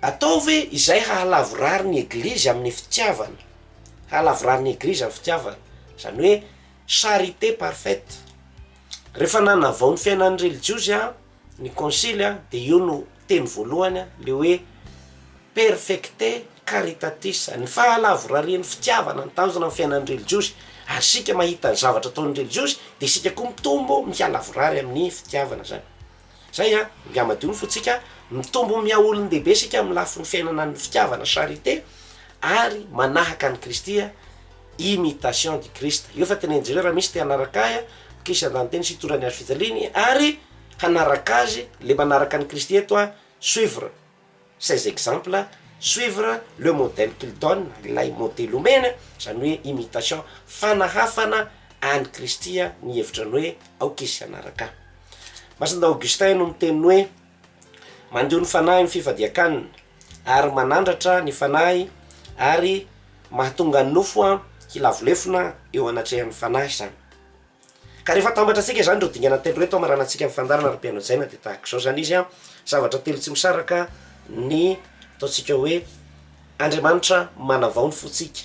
Atao ve izay hahalavorary ny Eglizy amin'ny fitiavana? Hahalavorary ny Eglizy amin'ny fitiavana, izany hoe charité parfaite. Rehefa nanavao ny fiainan'ny relijiozy ny Konsily dia io no teny voalohany, ilay hoe perfecte caritatis, ny fahalavorarian'ny fitiavana no tanjona amin'ny fiainan'ny relijiozy, ary isika mahita ny zavatra ataon'ny relijiozy dia isika koa mitombo mihalavorary amin'ny fitiavana izany. Zay an, nga madio ny fontsika, mitombo miha olon-dehibe isika amin'ny lafiny fiainana ny fitiavana, charité, ary manahaka an'i Kristy an, imitation du Christ. Eo fa teneno jereo raha misy te hanaraka ahy an, Kristy andaniteny sy hitondra ny hazo fijaliany ary hanaraka azy le manaraka an'i Kristy eto an, suivre. Ces exemples suivre le modèle qu'il donne, ilay modely omeny a, izany hoe imitation, fanahafana an'i Kristy ny hevitrany hoe aoka izy hanaraka ahy. Masina Augustin no miteny hoe, Mandio ny fanahy ny fifadian-kanina, ary manandratra ny fanahy ary mahatonga ny nofo hilavolefona eo anatrehan'ny fanahy izany. Ka rehefa atambatra antsika izany ireo dingana telo ireto hamarana antsika amin'ny fandaharana ary piano jaina dia tahaka izao izany izy an, zavatra telo tsy misaraka ny ataontsika hoe Andriamanitra manavao ny fontsika,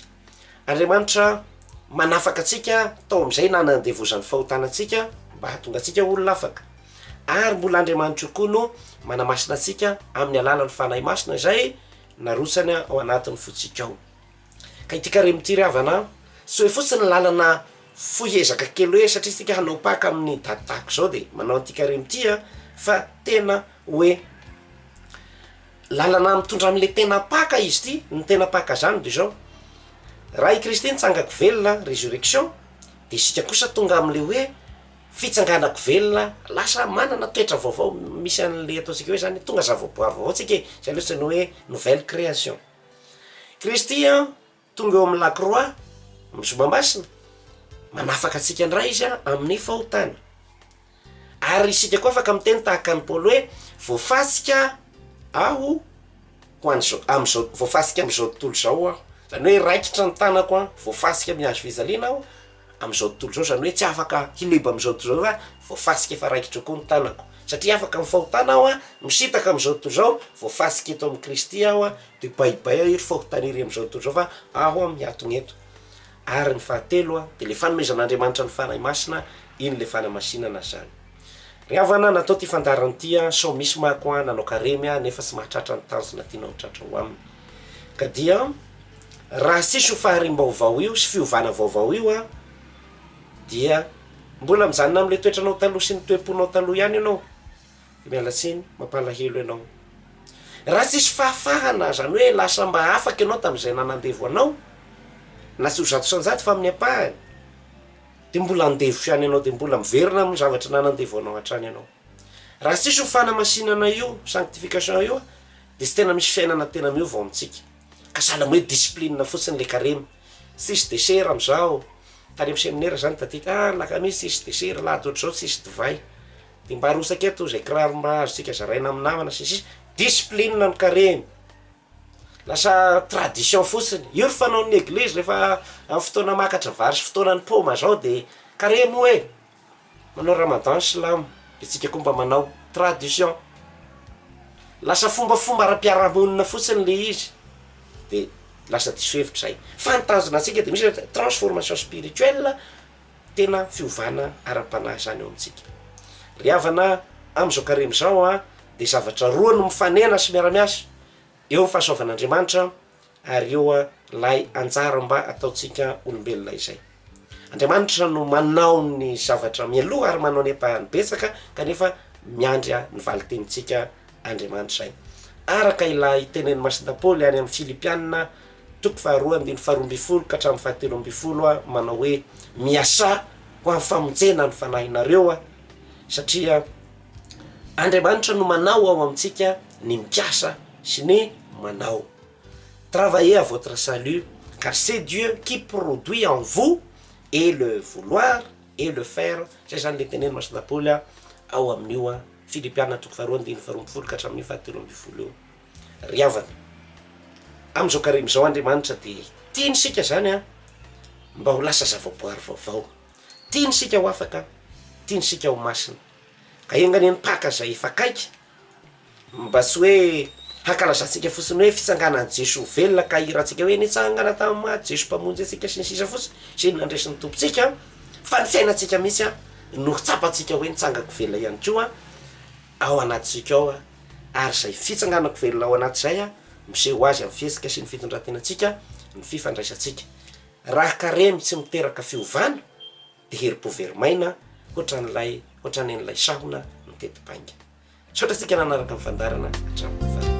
Andriamanitra manafaka antsika tao amin'izay nanandevozan'ny fahotana antsika mba hahatonga antsika olona afaka, ary mbola Andriamanitra io koa no manamasina antsika amin'ny alalan'ny Fanahy Masina izay narotsany ao anatin'ny fontsika ao. Ka ity carem ity ry havana an! Soy fotsiny ny lalana fohy ezaka kely hoe satria isika hanao Paka amin'ny daty tahaka izao de manao an'ity carem ity an! Fa tena hoe lalana mitondra an'le tena Paka izy ity, ny tena Paka zany de zao, raha i Kristy nitsangako velona, resurrection, de isika kosa tonga am'le hoe fitsanganako velona, lasa manana toetra vaovao, misy an'le ataontsika hoe zany tonga zavaboary vaovao tsika e! zay lesy no hoe nouvelle création. Kristy an, tonga eo amin'ny lakroa, amin'ny zoma masina, manafaka antsika indray Izy an, amin'ny fahotana. Ary isika koa afaka miteny tahaka an'i Paoly hoe, voafasika aho ho an'izao, amin'izao, voafasika amin'izao tontolo izao aho. Izany hoe raikitra ny tanako an, voafasika amin'ny hazo fijaliana aho. Amin'izao tontolo izao, izany hoe tsy afaka hileba amin'izao tontolo izao fa voafasika efa raikitra koa ny tanako. Satria afaka amin'ny fahotana aho, misintaka amin'izao tontolo izao, voafasika eto amin'i Kristy aho, dia baibay aho iry fahotana iry amin'izao tontolo izao fa aho mihatona eto. Ary ny fahatelo dia ilay fanomezan'Andriamanitra ny Fanahy Masina, iny ilay fanamasinana izany. Ry havana, natao ty fandaharana ty an, sao misy manko an nanao karemy an nefa tsy mahatratra ny tanjona tianao ho tratra ho aminy. Ka dia raha tsisy io fahariam-baovao io sy fiovana vaovao io an, dia mbola mijanona amin'ilay toetranao taloha sy ny toe-ponao taloha ihany ianao. Dia miala tsiny, mampalahelo ianao. Raha tsisy fahafahana, izany hoe lasa mba afaka ianao tamin'izay nanandevo anao, na tsy ho zato isan-jato fa amin'ny ampahany, Dia mbola andevo ihany ianao, dia mbola miverina amin'ny zavatra nanandevoanao hatrany ianao. Raha tsisy io fanamasinana io, sanctification io, dia tsy tena misy fiainana tena miova ao amintsika. Ka sahala amin'ny hoe discipline fotsiny ilay karemy. Tsisy dessert amin'izao, tany amin'ny seminera izany tadidiko, ah ny lakamisy tsisy dessert, alahady ohatr'izao tsisy divay. Dia mba arotsaka eto izay kiraro mba azontsika zaraina amin'ny namana sy ny sisa. Discipline ny karemy. Lasa tradition fotsiny. Io ry fanaon'ny eglizy rehefa amin'ny fotoana makatra vary sy fotoanan'ny paoma zao de kare moa e! Manao ramadan ny silamo de tsika koa mba manao. Tradition. Lasa fombafomba ara-piarahamonina fotsiny le izy de lasa diso hevitra zay. Fa ny tanjona antsika de misy hoe transformation spirituelle. Tena fiovana ara-panahy izany eo amintsika. Ry havana, amin'izao karemy izao dia zavatra roa no mifanena sy miara-miasa, eo ny fahasoavan'Andriamanitra ary eo ilay anjara mba ataontsika olombelona izay. Andriamanitra no manao ny zavatra mialoha ary manao ny ampahany betsaka kanefa miandry ny valintenintsika Andriamanitra izay. Araka ilay tenenin'i Masindahy Paoly any amin'ny Filipiana, Toko faharoa andininy faharoa ambin'ny folo ka hatramin'ny fahatelo ambin'ny folo aho manao hoe, Miasà ho amin'ny famonjena ny fanahinareo aho, satria Andriamanitra no manao ao amintsika ny mikasa sy ny manao. Travaillez à votre salut, car c'est Dieu qui produit en vous et le vouloir et le faire, izay izany ilay tenenin'i Masina Paoly ao amin'io Filipiana toko faharoa andininy faharoa ambin'ny folo ka hatramin'io fahatelo ambin'ny folo io. Ry havana, amin'izao karemy izao Andriamanitra dia tiany isika izany an, mba ho lasa zavaboary vaovao. Tiany isika ho afaka, tiany isika ho masina. Ka enga anie mpaka izay efa akaiky, mba tsy hoe hankalazantsika fotsiny hoe fitsanganan'i Jesoa velona ka hihirantsika hoe nitsangana tamin'ny maty Jesoa Mpamonjy antsika sy ny sisa fotsiny, sy ny nandresin'ny Tompontsika, fa ny fiainantsika mihitsy no ho tsapantsika hoe nitsangako velona ihany koa. ao anatintsika ao, ary izay fitsanganako velona ao anat'izay miseho azy amin'ny fihetsika sy ny fitondran-tenantsika, ny fifandraisantsika. Raha karemy tsy miteraka fiovana, dia herim-po very maina hoatran'ilay hoatranen'ilay sahona miteti-bainga. Misaotra antsika nanaraka ny fandaharana hatramin'ny farany.